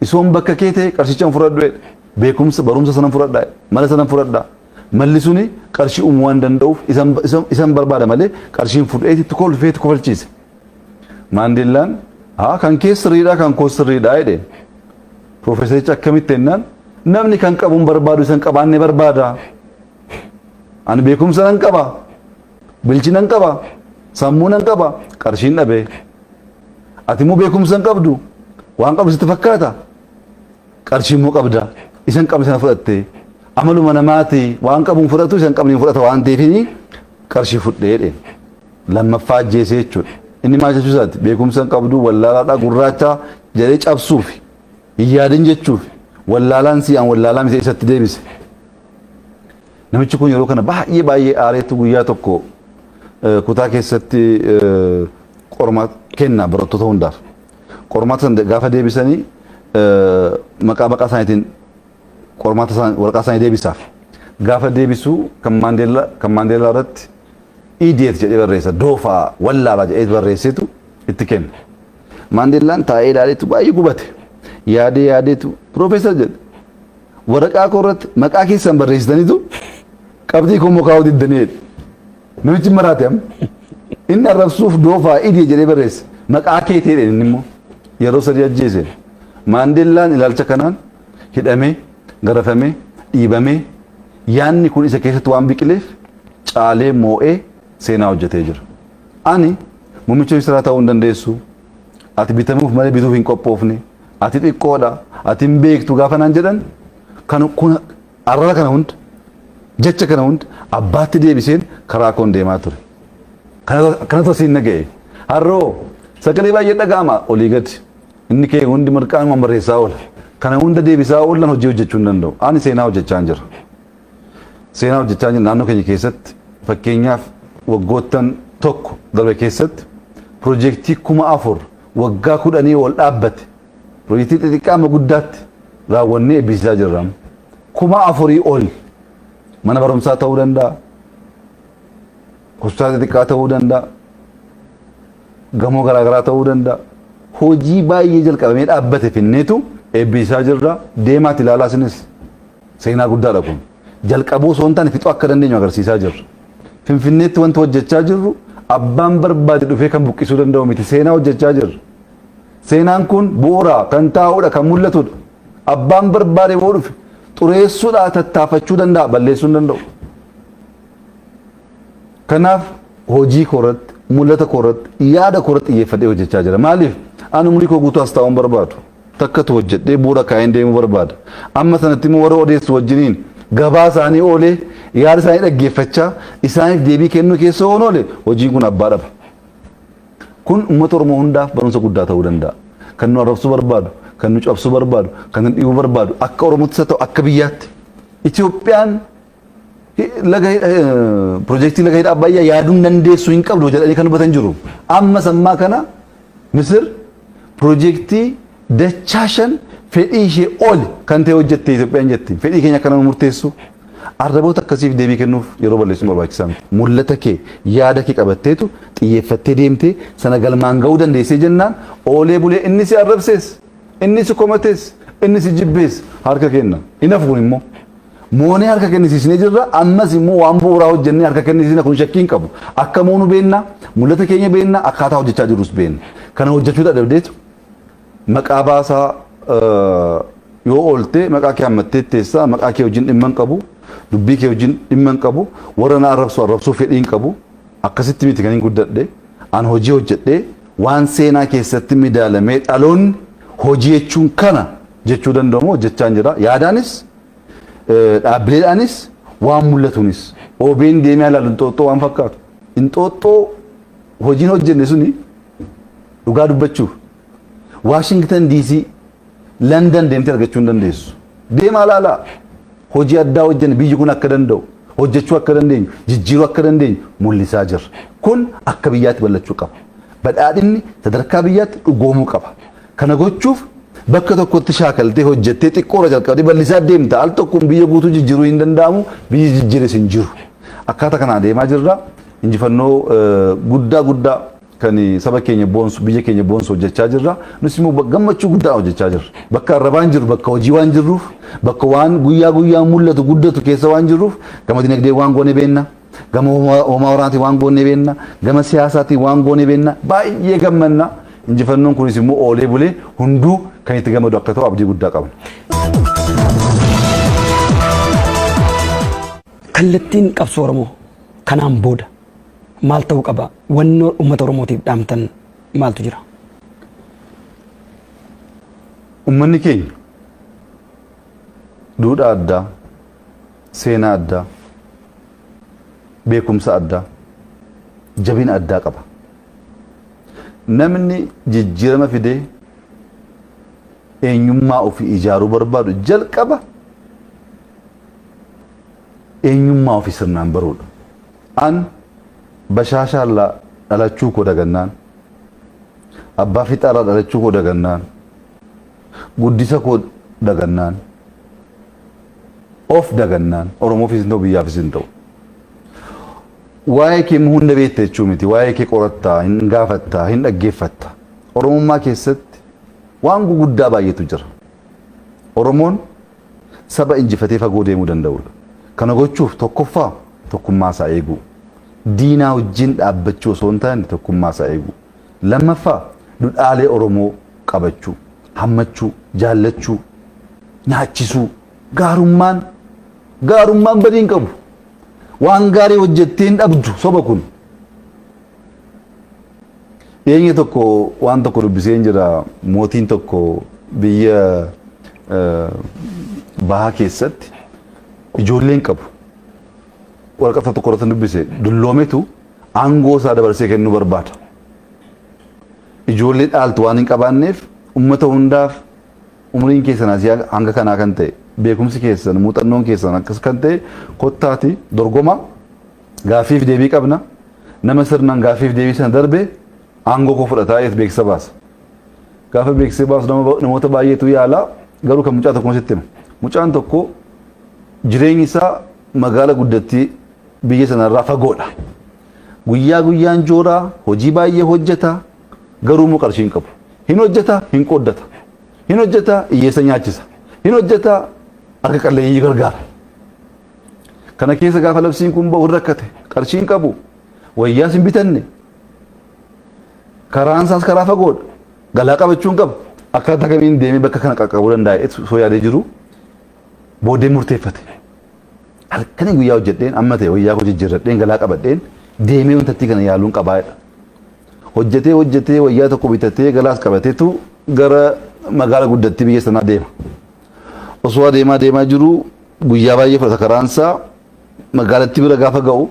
isoon bakka kee ta'e qarshicha fudhadhu jedhe. Beekumsa barumsa sanan fudhadha mala sanan fudhadha. Malli suni qarshii uumuu waan danda'uuf isan barbaada malee qarshiin fudheeti itti kolfeetu kofalchiise. Maandeellaan haa kan kee sirriidhaa kan koo sirriidhaa jedheen. Piroofeesarichi akkamitti jennaan namni kan qabuun barbaadu isan qabaanne barbaada. Ani beekumsa nan qaba, bilchina nan qaba, sammuu nan qaba, qarshiin dhabee. Ati immoo beekumsa hin qabdu, waan qabdu sitti fakkaata, qarshii immoo qabda, isan qabne sana fudhattee. Amaluma namaati waan qabuun fudhatu isan qabne hin fudhata waan ta'eef qarshii fudhee jedheen. lammaffaa ajjeese jechuudha. Inni maal jechuu isaati? Beekumsa hin qabdu, wallaalaadha, gurraacha jedhee cabsuufi. Hin yaadin jechuufi. Wallaalaan si an wallaalaa miti isatti deebise. Namichi kun yeroo kana baay'ee baay'ee aareetu guyyaa tokko eh, kutaa keessatti eh, qormaata kenna barattoota hundaaf. Qormaata sana gaafa deebisanii eh, maqaa maqaa isaaniitiin qormaata isaanii waraqaa isaanii deebisaaf. Gaafa deebisu kan Maandeellaa kan Maandeellaa irratti idiot jedhee barreessa doofaa wallaala jedhee barreessetu itti kenna. Maandeellaan taa'ee ilaaleetu baay'ee gubate. Yaadee yaadeetu piroofeesar jedhe. Waraqaa koo irratti maqaa keessan barreessitanitu qabxii koo immoo kaa'uu diddanii jedhe. Namichi maraate amma. Inni arrabsuuf doofaa idee jedhee barreesse. Maqaa kee ta'e inni immoo yeroo sadii ajjeese. Maandeellaan ilaalcha kanaan hidhamee, garafamee, dhiibamee yaanni kun isa keessatti waan biqileef caalee moo'ee seenaa hojjetee jira. Ani muummicha ministeeraa ta'uu hin dandeessu, ati bitamuuf malee bituuf hin qophoofne, ati xiqqoodha, ati hin beektu gaafa naan jedhan kan kun arraba kana hunda jecha kana hunda abbaatti deebiseen karaa koon deemaa ture. Kanatu asiin na ga'e. Har'oo sagalee baay'ee dhaga'ama olii gadi. Inni kee hundi mirqaanuma barreessaa oola. Kana hunda deebisaa oolan hojii hojjechuu hin danda'u. Ani seenaa hojjechaan jira. seenaa hojjechaa jiru naannoo keenya keessatti fakkeenyaaf waggoottan tokko darbe keessatti piroojeektii kuma afur waggaa kudhanii ol dhaabbate piroojeektii xixiqqaa amma guddaatti raawwannee eebbisiisaa jirra. Kuma afurii ol mana barumsaa ta'uu danda'a. Hospitaala xixiqqaa ta'uu danda'a. Gamoo garaagaraa ta'uu danda'a. Hojii baay'ee jalqabamee dhaabbate finneetu eebbisiisaa jirra. Deemaati ilaalaa isinis. Seenaa guddaadha kun. Jalqabuu osoo hin taane fixuu akka dandeenyu agarsiisaa jirra. Finfinneetti wanti hojjechaa jirru abbaan barbaade dhufee kan buqqisuu danda'u miti. Seenaa hojjechaa jirra. Seenaan kun bu'uura kan taa'udha, kan mul'atudha. Abbaan barbaade yoo dhufe xureessuudhaa tattaafachuu danda'a, balleessuu hin danda'u. Kanaaf hojii koorratti, mul'ata koorratti, yaada koorratti xiyyeeffadhee hojjechaa jira. Maaliif? Ani umurii koo guutuu as taa'uu hin barbaadu. takkatu hojjedhee bu'uura kaa'een deemuu barbaada. Amma sanatti immoo warra odeessu wajjiniin gabaa isaanii oolee yaada isaanii dhaggeeffachaa isaaniif deebii kennuu keessa oon oole hojiin kun abbaa dhaba. Kun uummata Oromoo hundaaf barumsa guddaa ta'uu danda'a. Kan nu arrabsuu barbaadu, kan nu cabsuu barbaadu, kan nu dhiibuu barbaadu akka Oromootti isa ta'u akka biyyaatti Itoophiyaan laga pirojektii laga hidha abbayyaa yaaduun dandeessu hin qabdu jedhanii kan dubbatan jiru. Amma sammaa kana Misir pirojektii dachaa shan fedhii ishee ol kan ta'e hojjette Itoophiyaan jetti. Fedhii keenya akka nama murteessu arraboota akkasiif deebii kennuuf yeroo balleessuun barbaachisaa miti. Mul'ata kee yaada kee qabatteetu xiyyeeffattee deemtee sana galmaan ga'uu dandeessee jennaan oolee bulee inni si arrabsees inni si komatees inni si jibbees harka kenna. Hin hafu kun immoo. Moonee harka kennisiisnee jirra. Ammas immoo waan bu'uuraa hojjennee harka kennisiisna kun shakkii hin qabu. Akka moonu beenna, mul'ata keenya beenna, akkaataa hojjechaa jirrus beenna. Kana hojjechuu dadhabdeetu maqaa baasaa yoo oolte maqaa kee hammattee teessaa maqaa kee wajjin dhimma hin qabu. Dubbii kee wajjin dhimma hin qabu. Warra na arrabsu arrabsuu fedhii hin qabu. Akkasitti miti kan hin guddadhe. An hojii hojjedhee waan seenaa keessatti midaalamee dhaloonni hojii jechuun kana jechuu danda'u immoo hojjechaan jira. Yaadaanis dhaabbileedhaanis waan mul'atuunis OBN deemee ilaalu inxooxxoo waan fakkaatu inxooxxoo hojiin hojjenne suni dhugaa dubbachuuf Waashingtan DC Landan deemtee argachuu hin dandeessu. Deemaa ilaalaa hojii addaa hojjenne biyyi kun akka danda'u hojjechuu akka dandeenyu jijjiiruu akka dandeenyu mul'isaa jirra. Kun akka biyyaatti bal'achuu qaba. Badhaadhinni sadarkaa biyyaatti dhugoomuu qaba. Kana gochuuf bakka tokkotti shaakaltee hojjettee xiqqoorra jalqabdee bal'isaa deemta. Al tokkoon biyya guutuu jijjiiruun hin danda'amu. Biyyi jijjiires hin jiru. Akkaataa kanaan adeemaa jirra. Injifannoo guddaa guddaa kan saba keenya boonsu, biyya keenya boonsu hojjechaa jirra. Nus immoo gammachuu guddaan hojjechaa jirra. Bakka arrabaa hin jirru, bakka hojii waan jirruuf, bakka waan guyyaa guyyaan mul'atu, guddatu keessa waan jirruuf gama dinagdeen waan goone beekna. Gama hoomaa waraanaatiin waan goonee beenna, gama siyaasaatiin waan goonee beenna baay'ee gammanna. Injifannoon kunis immoo oolee bulee hunduu kan itti gammadu akka ta'u abdii guddaa qabna. Kallattiin qabsoo Oromoo kanaan booda maal ta'uu qaba? Wannoo uummata Oromootiif dhaamtan maaltu jira? Uummanni keenya duudhaa addaa, Seenaa addaa, beekumsa addaa, jabina addaa qaba. Namni jijjiirama fidee eenyummaa ofii ijaaruu barbaadu jalqaba eenyummaa ofii sirnaan baruudha. An bashaashaallaa dhalachuu koo dagannaan, abbaa fixaarraa dhalachuu koo dagannaan, guddisa koo dagannaan, Of dagannaan Oromoofis hin ta'u biyyaafis hin ta'u. Waa'ee kee immoo hunda beekta jechuu miti. Waa'ee kee qoratta, hin gaafatta, hin dhaggeeffatta. Oromummaa keessatti waan guguddaa baay'eetu jira. Oromoon saba injifatee fagoo deemuu danda'udha. Kana gochuuf tokkoffaa tokkummaa isaa eeguu. Diinaa wajjin dhaabbachuu osoo hin taane tokkummaa isaa eeguu. Lammaffaa, dudhaalee Oromoo qabachuu, hammachuu, jaallachuu, nyaachisuu. Gaarummaan gaarummaan badii hin qabu. Waan gaarii hojjettee hin dhabdu soba kun. Dhiyeenya tokko waan tokko dubbiseen jira mootiin tokko biyya eh, bahaa keessatti ijoollee hin qabu. Waraqata tokko irratti dubbise dulloometu aangoo isaa dabarsee kennuu barbaada. Ijoollee dhaaltu waan hin qabaanneef uummata hundaaf umriin keessan asii hanga kanaa kan ta'e beekumsi keessan muuxannoon keessan akkas kan ta'e kottaati dorgoma gaaffiif deebii qabna nama sirnaan gaaffiif deebii sana darbe aangoo koo fudhataa eef beeksisa baasa. Gaafa beeksisa baasu namoota baay'eetu yaala garuu kan mucaa tokko sitti hima. Mucaan tokko jireenyi isaa magaala guddattii biyya sanarraa fagoodha. Guyyaa guyyaan joora hojii baay'ee hojjeta garuu immoo qarshii hin qabu. Hin hojjeta hin qooddata. Hin hojjeta hiyyeessa nyaachisa. Hin hojjeta harka qalleeyyii gargaara. Kana keessa gaafa labsiin kun bahu hin rakkate qarshii hin qabu. Wayyaas hin bitanne. Karaan isaas karaa fagoodha. Galaa qabachuu hin qabu. Akkaataa kamiin deemee bakka kana qaqqabuu dandaa'e osoo yaadee jiru. Booddee murteeffate. Halkanii guyyaa hojjedheen amma ta'e wayyaa koo jijjiirradheen galaa qabadheen deemee wantattii kana yaaluun qabaa jedha. Hojjetee hojjetee wayyaa tokko bitatee galaas qabateetu gara magaala guddattii biyya sanaa deema. Osoo adeemaa deemaa jiru guyyaa baay'ee fudhata karaansaa magaalattii bira gaafa ga'u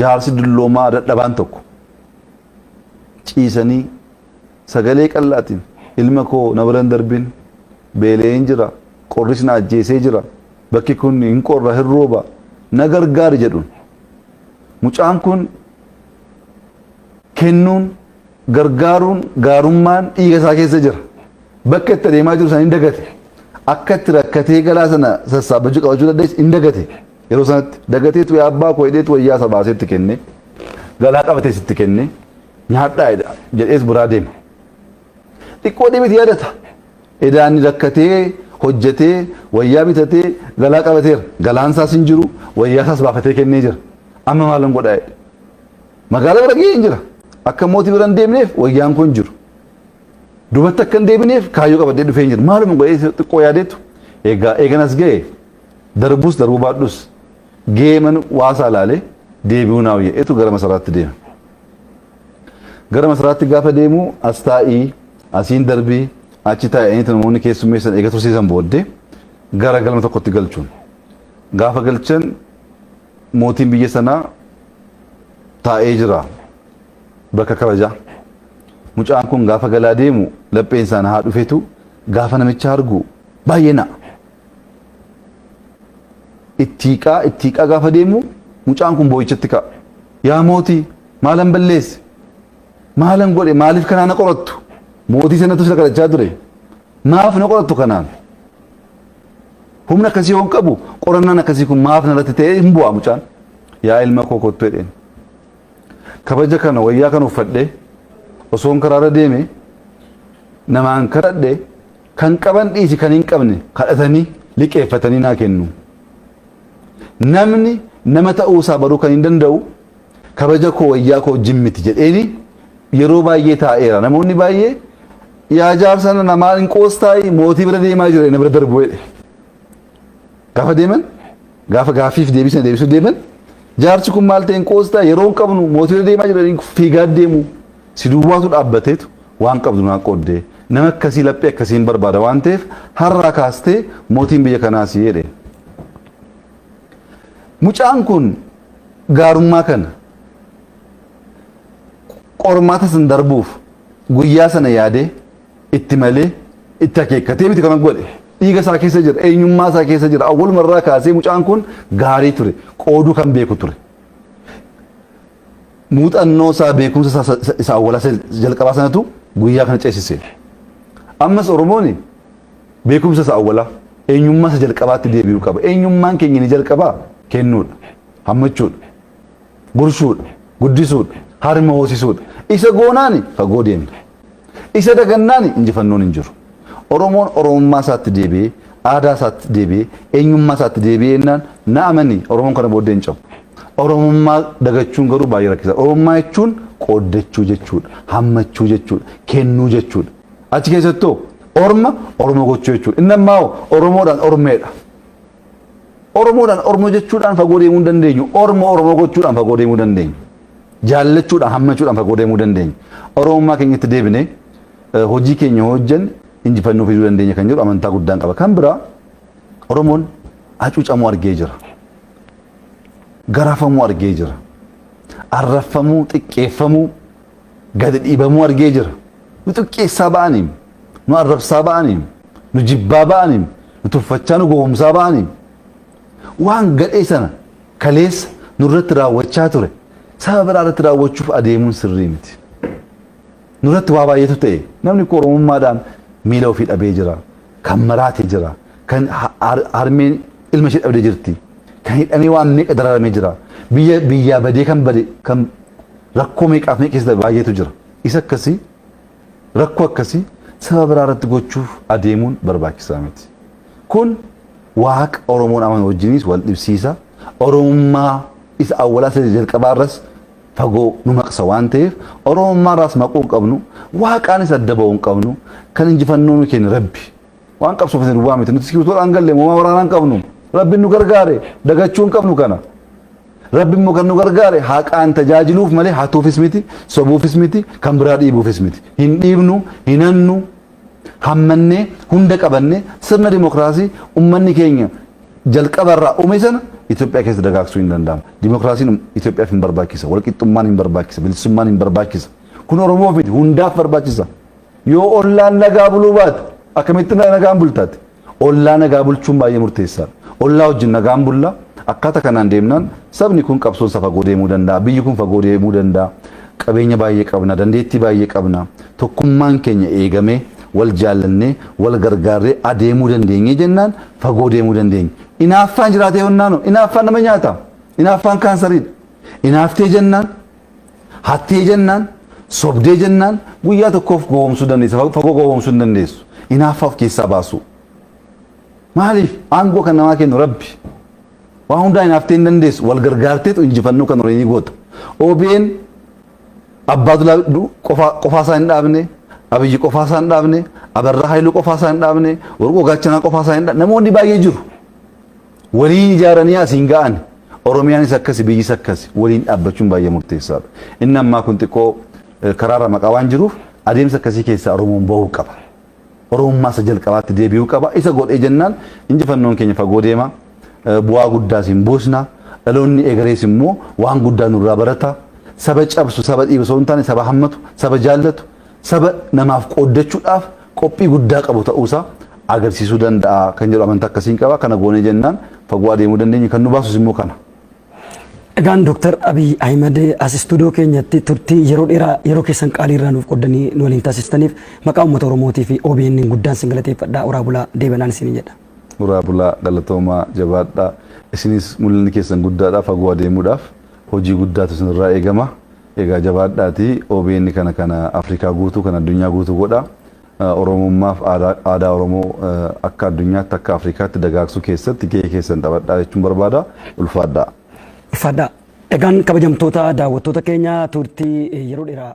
jaarsi dulloomaa dadhabaan tokko ciisanii Sagalee qal'aatiin, Ilma koo na bira hin darbin, beela'een jira, qorris na ajjeesee jira, bakki kun hin qorra, hin rooba, na gargaari jedhuun. Mucaan kun kennuun, gargaaruun, gaarummaan dhiiga isaa keessa jira. Bakka itti adeemaa jiru sana hin dagate. Akka itti rakkatee galaa sana sassaabbachuu qabachuu dandeessu hin dagate. Yeroo sanatti dagateetu yaa abbaa koo jedheetu wayyaa isa baasee itti kenne. Galaa qabatees itti kenne. nyaadhaa eda jedhees biraa deema. Xiqqoo dhimiti yaadata. Edaan rakkatee hojjetee wayyaa bitatee galaa qabateera. Galaan isaas hin jiru wayyaa isaas baafatee kennee jira. Amma maalan godhaa jedhe. Magaala bira ga'ee hin jira. Akka mootii bira hin deemneef wayyaan koo hin jiru. Dubatti akka hin deebineef kaayyoo qabadhee dhufee hin jiru. Maaluma godhee xiqqoo yaadeetu egaa eegan as ga'e darbus darbuu baadhus Geeman waasaa ilaalee deebi'uu naa wayya etu gara masaraatti deema. Gara masaraatti gaafa deemu as taa'ii asiin darbii achi taa'anii namoonni keessummeessan eega tursiisan booddee gara galma tokkotti galchuun. Gaafa galchan mootiin biyya sanaa taa'ee jira bakka kabajaa. Mucaan kun gaafa galaa deemu lapheen isaan haa dhufetu gaafa namicha argu baay'ee na'a. itti hiiqaa itti hiiqaa gaafa deemu mucaan kun boo'ichatti ka'a. Yaa mootii maalan balleesse maalan godhe maaliif kanaa na qorattu mootii sanatu sila kadhachaa ture maaf na qorattu kanaan humna akkasii hoon qabu qorannaan akkasii kun maaf narratti ta'ee hin bu'aa mucaan yaa ilma koo kottu jedheen kabaja kana wayyaa kan uffadhe osoon karaarra deeme namaan kadhadhe Kan qaban dhiisi kan hin qabne kadhatanii, liqeeffatanii naa kennu. Namni nama ta'uu isaa baruu kan hin danda'u kabaja koo wayyaa koo wajjin miti jedheeni yeroo baay'ee taa'eera. Namoonni baay'ee yaa jaarsa nana maal hin qoostaayi mootii bira deemaa jira na bira darbu jedhe. Gaafa deeman gaafa gaaffiif deebisna deebisuu deeman jaarsi kun maal ta'een qoostaa yeroo hin qabnu mootii deemaa jiraniin fiigaa deemu si duwwaatu dhaabbateetu waan qabdu naa qooddee nama akkasii laphee akkasiin barbaada waan ta'eef har'aa kaastee mootiin biyya kanaa si jedhe. Mucaan kun gaarummaa kana qormaata san darbuuf guyyaa sana yaadee itti malee itti akeekkatee miti kana godhe dhiiga isaa keessa jira eenyummaa isaa keessa jira awwaluma irraa kaasee mucaan kun gaarii ture qooduu kan beeku ture muuxannoo isaa beekumsa isaa isa- isa- isa awwalaa isa jalqabaa sanatu guyyaa kana ceesise ammas oromooni beekumsa isa awwalaa eenyummaa isa jalqabaatti deebi'uu qaba eenyummaan keenya ni jalqabaa kennuudha hammachuudha Gurshuudhe, guddisuudhe, harma hoosisuudhe. Isa goonaani fagoo deemna. Isa dagannaani injifannoon hin jiru. Oromoon Oromummaa isaatti deebi'ee, aadaa isaatti deebi'ee, eenyummaa isaatti deebi'ee jennaan na amani Oromoon kana booddee hin cabu. Oromummaa dagachuun garuu baay'ee rakkisaadha. Oromummaa jechuun qooddachuu jechuudha. Hammachuu jechuudha. Kennuu jechuudha. Achi keessattoo orma Oromoo gochuu jechuudha. Inni ammaa hoo Oromoodhaan ormeedha. Oromoodhaan Oromoo jechuudhaan fagoo deemuu hin dandeenyu. Oromoo Oromoo gochuudhaan fagoo deemuu dandeenyu. Jaallachuudhaan hammachuudhaan fagoo deemuu dandeenyu. Oromummaa keenyatti deebinee hojii keenya hojjan injifannoo fiduu dandeenya kan jedhu amantaa guddaan qaba. Kan biraa Oromoon hacuucamuu argee jira. Garafamuu argee jira. Arrafamuu, xiqqeeffamuu, gadi dhiibamuu argee jira. Nu xiqqeessaa ba'aniim, nu arrabsaa ba'aniim, nu jibbaa ba'aniim, nu tuffachaa nu gowwomsaa ba'aniim. Waan gadhee sana kaleessa nurratti raawwachaa ture saba biraa irratti raawwachuuf adeemuun sirrii miti. Nurratti waa baay'eetu ta'e namni koo Oromummaadhaan miila ofii dhabee jira. Kan maraate jira. Kan ha- har- harmeen ilma ishee dhabdee jirti. Kan hidhamee waan meeqa dararamee jira. Biyya biyyaa badee kan bade kan Rakkoo meeqaaf meeqa keessa darbe baay'eetu jira. Isa akkasii rakkoo akkasii saba biraa irratti gochuuf adeemuun barbaachisaa miti. Kun waaqa Oromoon amanu wajjiniis wal dhibsiisa. Oromummaa isa awwalaa isa jalqabaa irras fagoo nu maqsa waan ta'eef Oromummaa irraas maquu hin qabnu. Waaqaanis adda ba'uu hin qabnu. Kan injifannoo nu kenne Rabbi. Waan qabsoofne duwwaa miti. Nuti sikiwitoodhaan galle moomaa waraanaan qabnu. Rabbiin nu gargaare dagachuun qabnu kana. Rabbi immoo kan nu gargaare haqaan tajaajiluuf malee hatuufis miti, sobuufis miti, kan biraa dhiibuufis miti. Hin dhiibnu, hin hannu, hammannee, hunda qabannee sirna dimokiraasii ummanni keenya jalqabarraa uume sana Itoophiyaa keessa dagaagsuu hin danda'amu. Dimokiraasiin Itoophiyaaf hin barbaachisa, walqixxummaan hin barbaachisa, bilisummaan hin barbaachisa. Kun Oromoof miti, hundaaf barbaachisa. Yoo ollaan nagaa buluu baate akkamitti nagaan bulta ati? Ollaa nagaa bulchuun baay'ee murteessaadha. Ollaa wajjin nagaan bulla. Akkaata kanaan deemnaan sabni kun qabsoon isaa fagoo deemuu danda'a. Biyyi kun fagoo deemuu danda'a. Qabeenya baay'ee qabna, dandeettii baay'ee qabna. Tokkummaan keenya eegamee, wal jaallannee, wal gargaarree adeemuu dandeenye jennaan fagoo deemuu dandeenya. Inaaffaan jiraatee honnaanoo? Inaaffaan nama nyaata. Inaaffaan kaansariidha. Inaaftee jennaan. Hattee jennaan, sobdee jennaan guyyaa tokkoof gowwoomsuu dandeessa. Fa- Fagoo gowwoomsuu hin dandeessu. Inaaffaa of keessaa baasuu. Maaliif aangoo kan namaa kennu rabbi. Waa hundaa inaaftee hin dandeessu. Wal gargaarteetu injifannoo kan horii ni goota. OBN abbaa dulaa du- qofaa qofaa isaa hin dhaabne abiyyi qofaa isaa hin dhaabne abarraa haayiluu qofaa isaa hin dhaabne warqoo gaachanaa qofaa isaa hin dhaabne namoonni baay'ee jiru. Waliin ijaaranii asiin ga'an. Oromiyaanis akkasi biyyis akkasi. Waliin dhaabbachuun baay'ee murteessaadha. Inni ammaa kun xiqqoo karaarra maqaa waan jiruuf adeemsa akkasii keessaa Oromoon bahuu qaba. Oromummaa isa jalqabaatti deebi'uu qaba. Isa godhee jennaan injifannoon keenya fagoo deema. Bu'aa guddaas hin buusna. Dhaloonni egerees immoo waan guddaa nurraa barata. Saba cabsu, saba dhiibu osoo hin taane saba hammatu, saba jaallatu, saba namaaf qooddachuudhaaf qophii guddaa qabu ta'uusaa agarsiisuu danda'a kan jedhu amantaa akkasiin qaba. Kana goonee jennaan fagoo adeemuu dandeenya. Kan nu baasus immoo kana. Egaan Dooktar Abiy Ahimad as istuudiyoo keenyatti turtii yeroo dheeraa yeroo keessan qaalii irraa nuuf qoddanii nu waliin taasistaniif maqaa uummata Oromootii fi OBN guddaan sin galateeffadhaa oraa bulaa deebanaan isin jedha. Uraa bulaa galatoomaa jabaadhaa isinis mul'inni keessan guddaadhaa fagoo adeemuudhaaf hojii guddaatu isinirraa eegama Egaa jabaadhaati obn kana kana Afrikaa guutuu kan addunyaa guutuu godha. Oromummaaf aadaa Oromoo akka addunyaatti akka Afrikaatti dagaagsuu keessatti gahee keessan taphadhaa jechuun barbaada. Ulfaadhaa. Ulfaadhaa. Egaan kabajamtoota daawwattoota keenya turtii yeroo dheeraa